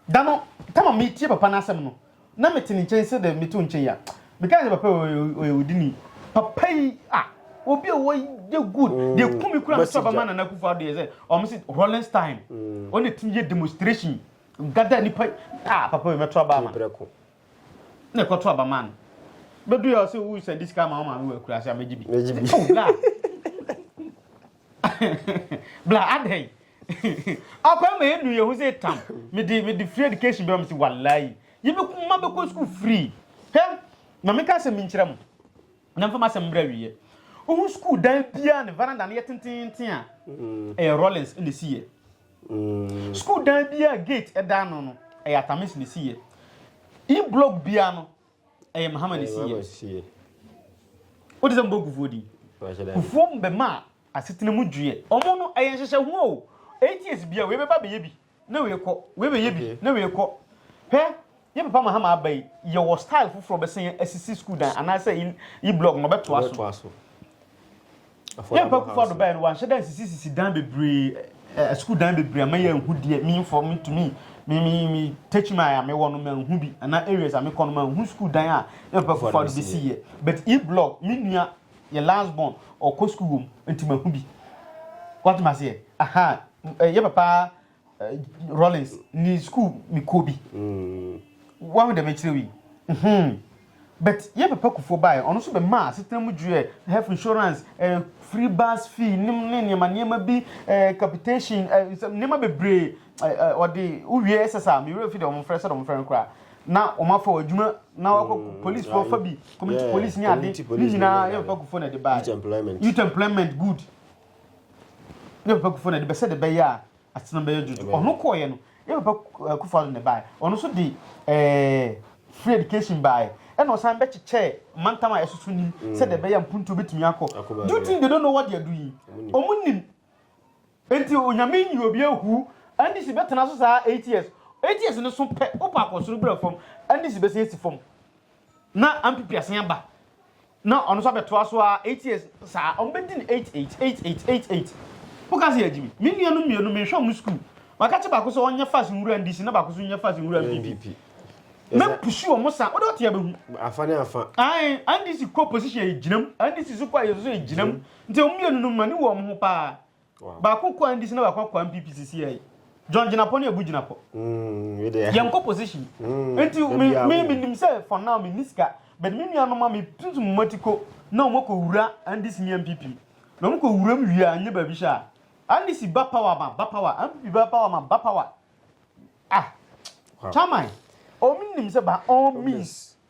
Da no, tam a metie papa no asɛm no, na mete ne nkyɛn sɛdeɛ meto nkyɛn yi a, mekae sɛ papa yi ɔyɛ odini. Papa yi a, obi a wɔyɛ good. Mm, deɛ kumi kura me sɛ ɔbɛma Nana Akufo Addo yɛ sɛ ɔmo se Rollins time. Mm. Ɔno etumi yɛ demonstration. Gada nipa ah papa yi mɛto aba ama. Na ɛkɔto aba ma no. Bɛdu yɛ ɔsɛ wo sɛ disika ma ɔma me wɔ akura sɛ amegye bi. Megye bi. Oh God. Bla adɛn? Ɔkwan ma yɛnu yɛn ho sɛ tam. Mede mede free education bɛma me se walai. Yɛbɛku ma bɛkɔ school free. Hɛ, ma meka asɛm bi nkyerɛ mo. Na mfa m'asɛm mbrɛ awieɛ. Wohu school dan biara ne veranda no yɛ tententen a, mm. ɛyɛ Rollins na ɛsi yɛ. Mm. School dan biara gate ɛda ano no, ɛyɛ Atamis na ɛsi yɛ. E-block biara no, Ɛyɛ Mahama ne siyɛ. Wote sɛ mbɔ kufuo din. Kufuo mbɛma a asetena mu dwiɛ. Ɔmo no ɛyɛ nhyehyɛ ho o. Eight years bia wei bɛba bɛyɛ bi na wei kɔ. Wei bɛyɛ bi na wei kɔ. Hwɛ yɛ papa Mahama aba yi yɛwɔ style foforɔ bɛsɛn asisi school dan anaasɛ yi blog no bɛtoa so. yɛn pɛ kufa do bɛyɛ no wɔanhyɛ dan sisi sisi dan bebree ɛ sukuu dan bebree ama yɛn hu deɛ mi nfɔ mi tumi mi mi mi techi mi a mi wɔ no ma nhu bi ana areas a mi kɔ no ma nhu sukuu dan a yɛn pɛ kufa do besi yɛ but e blog mi nua yɛ last born ɔkɔ sukuu wɔm nti ma hu bi wɔte ma seɛ aha yɛ papa Rollins ne school me kɔ bi mm. wahu dɛ mekyerɛ wi hmm. but yɛ papa kufoɔ baeɛ ɔno nso bɛmaa asetena mu dweɛ health insurance eh, free bus fee ne nneɛma nneɛma bi eh, capitation eh, nneɛma bebree ɔde eh, wowie ɛsɛ saa mewerɛ fi dɛ ɔmfrɛ sɛ dɛ ɔmfrɛ no koraa na wɔn afa wɔn adwuma na wɔakɔ mm, police fɔ fa bi community police ne ade ne nyinaa yɛ papa kufoɔ na ɛde baa youth employment good ne papa kufuo na ɛde bɛsɛ de bɛyɛ a asetena bɛyɛ dwodwo ɔno kɔɔyɛ no yɛ papa eh, kufuo ado na ɛbaeɛ ɔno nso de eh, free education baeɛ ɛna ɔsan bɛkyekyɛɛ mantam a ɛsoso nim mm. sɛ de bɛyɛ mpuntuo bɛtumi akɔ do you think they don't know what they are doing ɔmo nim nti onyame nyi obi ahu ndc bɛtena so saa eight years eight years no so pɛ wopa akɔsoro brɛ fam ndc bɛsɛ asi fam na ampipi asen aba Na ɔno nso abɛtoa so ara eight years saa, wɔn bɛdi no eight eight, eight eight, eight eight. Wo ka sɛ yɛ gyimi. Me nua nom mmienu menhwɛ wɔn sukuu. Maka kyɛ baako sɛ ɔnyɛ fast nwura NDC na baako nso nyɛ fast nwura NPP. Mɛ pusu wɔn saa, wode ɔte abɛhu. Afa ne afa. Ae, NDC kɔ opposition yɛ gyinam, NDC nso kɔ ayɛ nso yɛ gyinam. Nti wɔn mmienu no m'ani wɔ wɔn ho paa. Baako kɔ NDC na baako akɔ MPP sisi yɛ. John gyinapɔ ne abu gyinapɔ. Mm, Yɛn kɔ position. Mm, Nti mi mi mi nim sɛ for now mi niska. But mi nua noma mi tutu mu mati ko na wɔn kɔ wura NDC ne MPP. Na wɔn kɔ wura mu wia nye baabi hyɛ a. NDC ba power ma ba power. MPP ba power ma ba power. Ah. Chairman, omi nim sɛ by all means.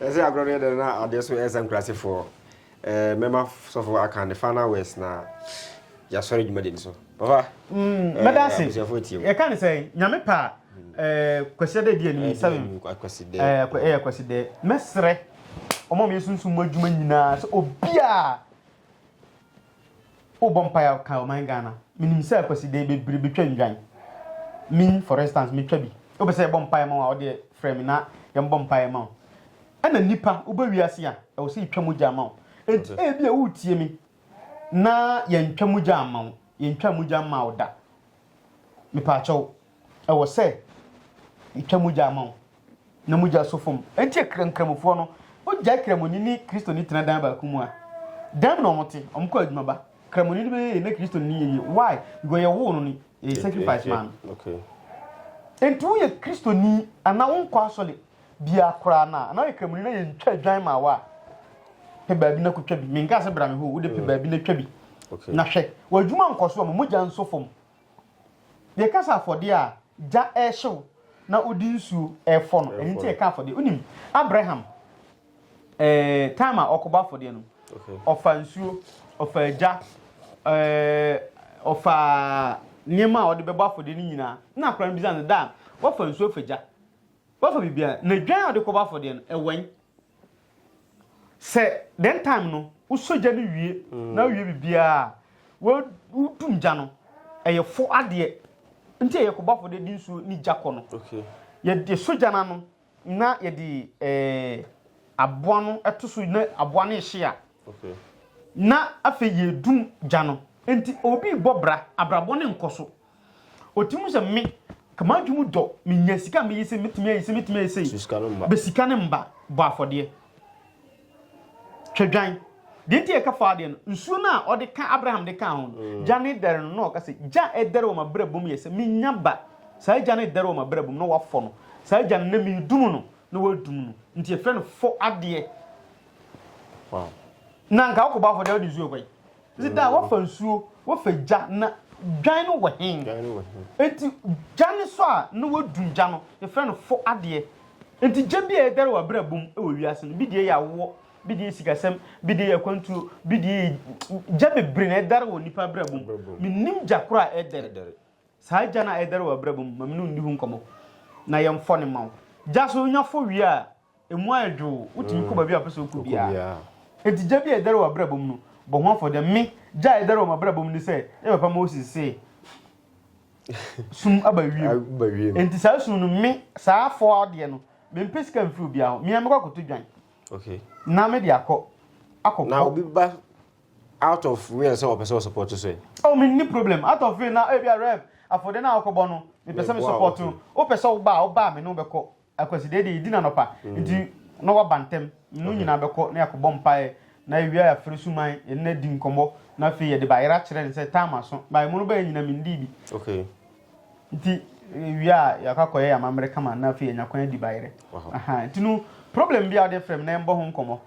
Ɛsɛ agorɔ no yɛ dɛn na adeɛ nso ɛresa nkurasefoɔ ɛɛ mɛma sɔfo aka ne final words na yɛasɔre dwumadi no so papa mm, eh, mɛda ase yɛka ne sɛ nyame pa eh, kwasiada adi anim eh, sɛm ɛyɛ kwasidɛ mɛserɛ ɔma meyɛ sunsum mu adwuma nyinaa sɛ obiaa Wobɔ mpae a ka ɔman Ghana. Menim sɛ Kwasida yi bebree betwa nnwan. Me for instance metwa bi. Wopɛ sɛ yɛbɔ mpae ma wo a wodeɛ frɛ me na yɛmbɔ mpae ma wo. Ɛna nipa wobɛ wiase a ɛwɔ sɛ yɛtwa mogya ma wo. Enti ebi a woretie me na yɛntwa mogya amma wo. Yɛntwaa mogya mmaa wo da. Mepaakyɛw Ɛwɔ sɛ yɛtwa mogya ma wo na mogya so fam. Enti akra nkramofoɔ no, wogyae Kramoni ne Kristoni tena dan baako mu a, dɛn na wɔte? Wɔkɔ adwuma ba. Kramoni no bɛyɛ yie na Kristoni no yɛ yie. Why? Because yɛwoo no no, yɛyɛ sacrifice maa no. Okay. Enti woyɛ Kristoni anaa wonkɔ asɔre biara koraa no a, anaa woyɛ Kramoni na yɛntwa adwan maa wo a, pɛ baabi na kɔtwa bi. Menkaa sɛ bra me hɔ o, wode pɛ baabi na twa bi. Okay. Na hwɛ, w'adwuma nkɔ so a, ma mogya nso fam. Deɛ ɛka sɛ afɔdeɛ a gya rehyew na wode nsuo refɔ no, ɛno nti ɛka afɔdeɛ. Wonim, Abraham, eh, time a ɔkɔbɔ afɔdeɛ no, ɔfa nsuo, ɔfa gya, eh, ɔfa nneɛma a ɔde bɛbɔ afɔdeɛ no nyinaa. Na akora no bisa no da a, wafa nsuo afa gya, wafa biribiara. Na dwan a ɔde kɔbɔ afɔdeɛ no, ɛwɛn. Sɛ dɛn time no wosɔ gya no wie na wowie biribiara a wodum gya no ɛyɛ fo adeɛ nti ɛyɛ kɔbɔfo de di nsuo ne gya kɔ no yɛde sɔ gya no ano na yɛde ɛɛ aboa no ɛto so na aboa no ehye a na afei yɛdum gya no nti obi bɔ bra abrabɔ ne nkɔ so. Otirim sɛ me ka m'adwe mu dɔ me nya sika meye se me tumi aye se me tumi aye sei bɛ sika ne mba bɔ afɔdeɛ twɛdwan deɛ nti ɛka faa deɛ no nsuo no a ɔde ka Abraham de kaa ho no mm. gya ne dɛre no na ɔka sɛ gya ɛdɛre wɔ m'abrabɔ mu yɛ sɛ menya ba saa gya no ɛdɛre wɔ m'abrabɔ mu na wafɔ no saa gya no na medum no na wadum no nti ɛfrɛ no fɔ adeɛ na nka wokɔbɔ afɔdeɛ wode nsuo kɔe Ese da a woafa nsuo, woafa gya na dwan no wɔ he? Enti gya no so a na woadum gya no, yɛfrɛ no fo adeɛ. Enti gya bi a ɛdɛre wɔ abrabɔ mu wɔ wiase no, bi deɛ yɛ awoɔ, bi deɛ yɛ sikasɛm, bi deɛ yɛ akwantuo, bi deɛ yɛ gya bebree na ɛdɛre wɔ nnipa abrabɔ mu. Mennim gya koro a ɛdɛre. Saa gya no a ɛdɛre wɔ abrabɔ mu, ma me ne wo nni ho nkɔmmɔ na yɛmfɔ no mma wo. Gya so, wonya fɔ wie a, Emu ayɛ dwow, wotumi kɔ baabi a wopɛ sɛ wokɔ biara. Enti gya bi a ɛdɛre wɔ w'abrabɔ mu no, bɔ ho afɔdeɛ. Me, gya a ɛdɛre wɔ m'abrabɔ mu ne sɛ, me papa Moses se, Sum aba wiem. Enti saa sum no, me, saa afɔa deɛ no, mempɛ sika mfiri obiara hɔ. Me ara mɛkɔ akɔtɔ dwan. Okay. Na me de akɔ, akɔkɔ. Na obi ba out of rain sɛ wɔpɛ sɛ wɔsupɔto so ɛ? Oh, menni problem. Out of rain na ebi a rep, afɔdeɛ no a wokɔbɔ no, mepɛ sɛ mesupɔto. Wopɛ sɛ wobaa, wobaa me ne wobɛkɔ. Akwasi deɛ deɛ yɛdi no anɔpa nti na waba ntɛm no nyinaa bɛkɔ na yɛakɔbɔ mpaeɛ na yɛwie a yɛafrɛ Suman yɛne no adi nkɔmmɔ na afei yɛde bayerɛ akyerɛ no sɛ tam aso but ɛmu no bɛyɛ nyina mendii bi nti yɛwie a yɛakɔ akɔyɛ amammerɛ kama na afei yɛnya kwan adi bayerɛ aha nti no problem bi a wode frɛ me na yɛmbɔ ho nkɔmmɔ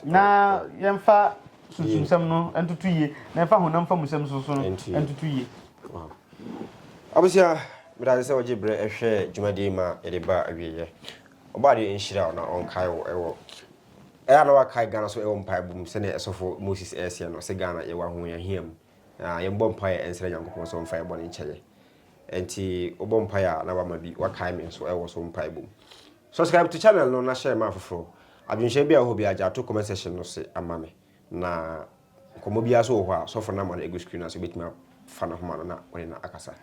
na yɛmfa sunsumsɛm no ntoto yie na yɛmfa honam fa musɛm soso no ntoto yie Abusua, meda ase sɛ wogye berɛ hwɛ dwumadie yi ma yɛde ba awieɛ. Ɔbɔadeɛ nhyira wo na ɔnkae wo wɔ Ɛyɛ a na wakae Ghana so wɔ mpaebɔ mu sɛdeɛ Ɛsɔfo Moses ɛɛseɛ no sɛ Ghana yɛwɔ ahohiahia mu na yɛnbɔ mpaeɛ nsrɛ Nyankopɔn sɛ ɔmfa yɛn bɔne nkyɛ yɛn. Ɛnti wobɔ mpaeɛ a na wama bi wakae me nso wɔ so mpaebɔ mu. Subscribe to channel no na share ma afoforɔ. Adwenhyɛ bi a wɔ hɔ biara gya to comment section no se ama me. na nkɔmmɔ biara nso wɔ hɔ a, sɔfo no ama no agu screen no ase, obetumi afa ne homa no na ɔne no akasa.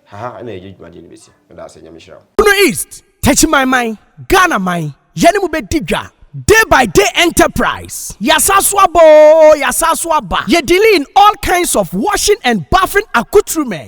Ha ha na yɛde dwumadie no besi. Meda ase, Nyame nhyira wo. Bono East, Techimanman, Ghana man, yɛ ne mo bɛ di dwa, Day by Day Enterprise, ya sa so aba oo, ya sa so aba, yɛ dealing in all kinds of washing and bathing accoutrement.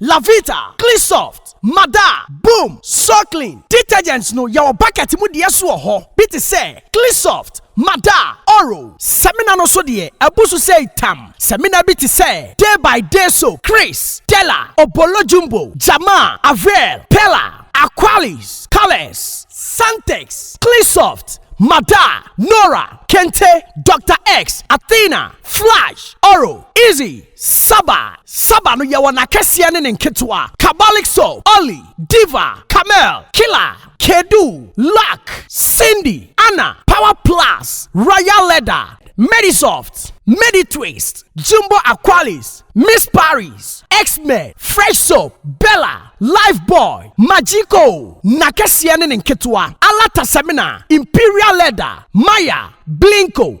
Lavita, Cleansoft, Mada, Boom, Soilclean detergents no yɛwɔ bucket mu deɛ so wɔ hɔ bi te sɛ Cleansoft, Mada, Oro. Samina no so deɛ abu so sei tam. Samina bi te sɛ Day by Day Soap, Chris, Della, Obolo Jumbo, Jamaa, Avail, Pella, Aqualis, Colours, Santex, Cleansoft, Mada, Nora, Kente, Doctor X, Athena, Flash, Oro, Easy, Saba, Saba no yɛwɔ n'akɛseɛ ne ne nketewa, Kabalik Soap, Olly, Diva, Camel, Killa, Kedu, Luck, Cindy, Anna, Power Plus, Royal Leather, Medisoft, Meditwist, Jumbo Aqualis, Miss Paris, Xmed, Fresh Soap, Bella, Lifebuoy, Magico, n'akɛseɛ ne ne nketewa, Alata Semina, Imperial Leather, Maya, Blinko,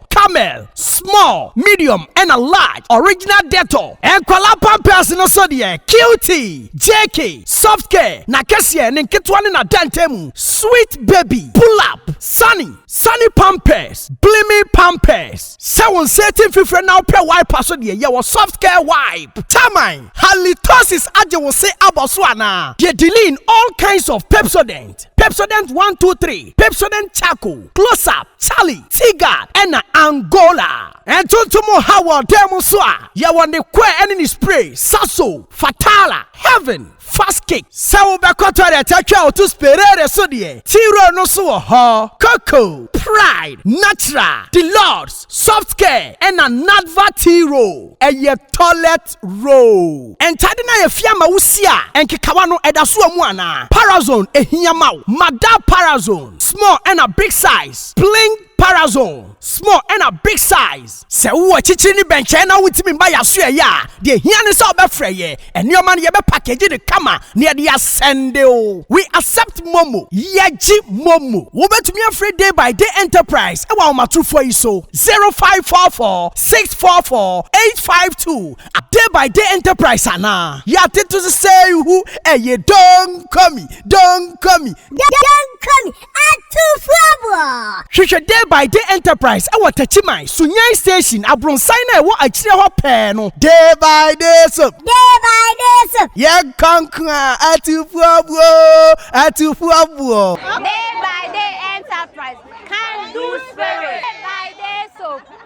Camel, small, medium ɛna large, original Dettol, nkwadaa pampers no so deɛ Cutie, JK, soft care, n'akɛseɛ, ne nketewa ne n'adantan mu, sweet baby, pull up, sunny, sunny pampers, blimi pampers, sɛ wo nsa ati mfifire na wopɛ wiper so deɛ yɛwɔ soft care wipe, Taman, halitosis agye wo se abɔ so anaa? Deɛ Diline, all kinds of Pepsodent, Pepsodent one two three, Pepsodent charcoal, close up, Charlie Tigard na Angola. Ntontom ha wɔ dan mu nso a, yɛwɔ ne kɔɛ ne ne spray, Sasso, Fatala, Heaven, Fast Kick. Sɛ wobɛkɔ toilet atwa a woto Sperere so deɛ, T-Roll no nso wɔ hɔ. Coco, Pride, Natural, Deluxe, Soft Care na Nadva T-Roll yɛ toilet. First row. Ntade no a yɛafia ama wo si a nkekawa no da so wɔ mu anaa? Parazone ehia ma wo? Ma da Parazone small ɛna big size pling Parazone small ɛna big size. Sɛ wowɔ akyikyiri ne bɛnkyɛn na wontumi mma yɛn aso ɛyɛ a, deɛ ɛhia ne sɛ wobɛfrɛ yɛn. Nneɛma no yɛbɛ package no kama na yɛde asɛnde wo. We accept momo. Yɛgye momo. Wobɛtumi afrɛ Day by Day Enterprise wɔ ahomatorofoɔ yi so, 0544. six four four eight five two a day by day enterprise anaa yɛate to sesei hu ɛyɛ donkomi donkomi donkomi atufoɔboɔ hwehwɛ day by day enterprise ɛwɔ takyiman sunyani station abronsan no a ɛwɔ akyire hɔ pɛɛ no day by day soap day by day soap yɛ nkonkoa atufoɔboɔ atufoɔboɔ day by day enterprise can do spirit day by day soap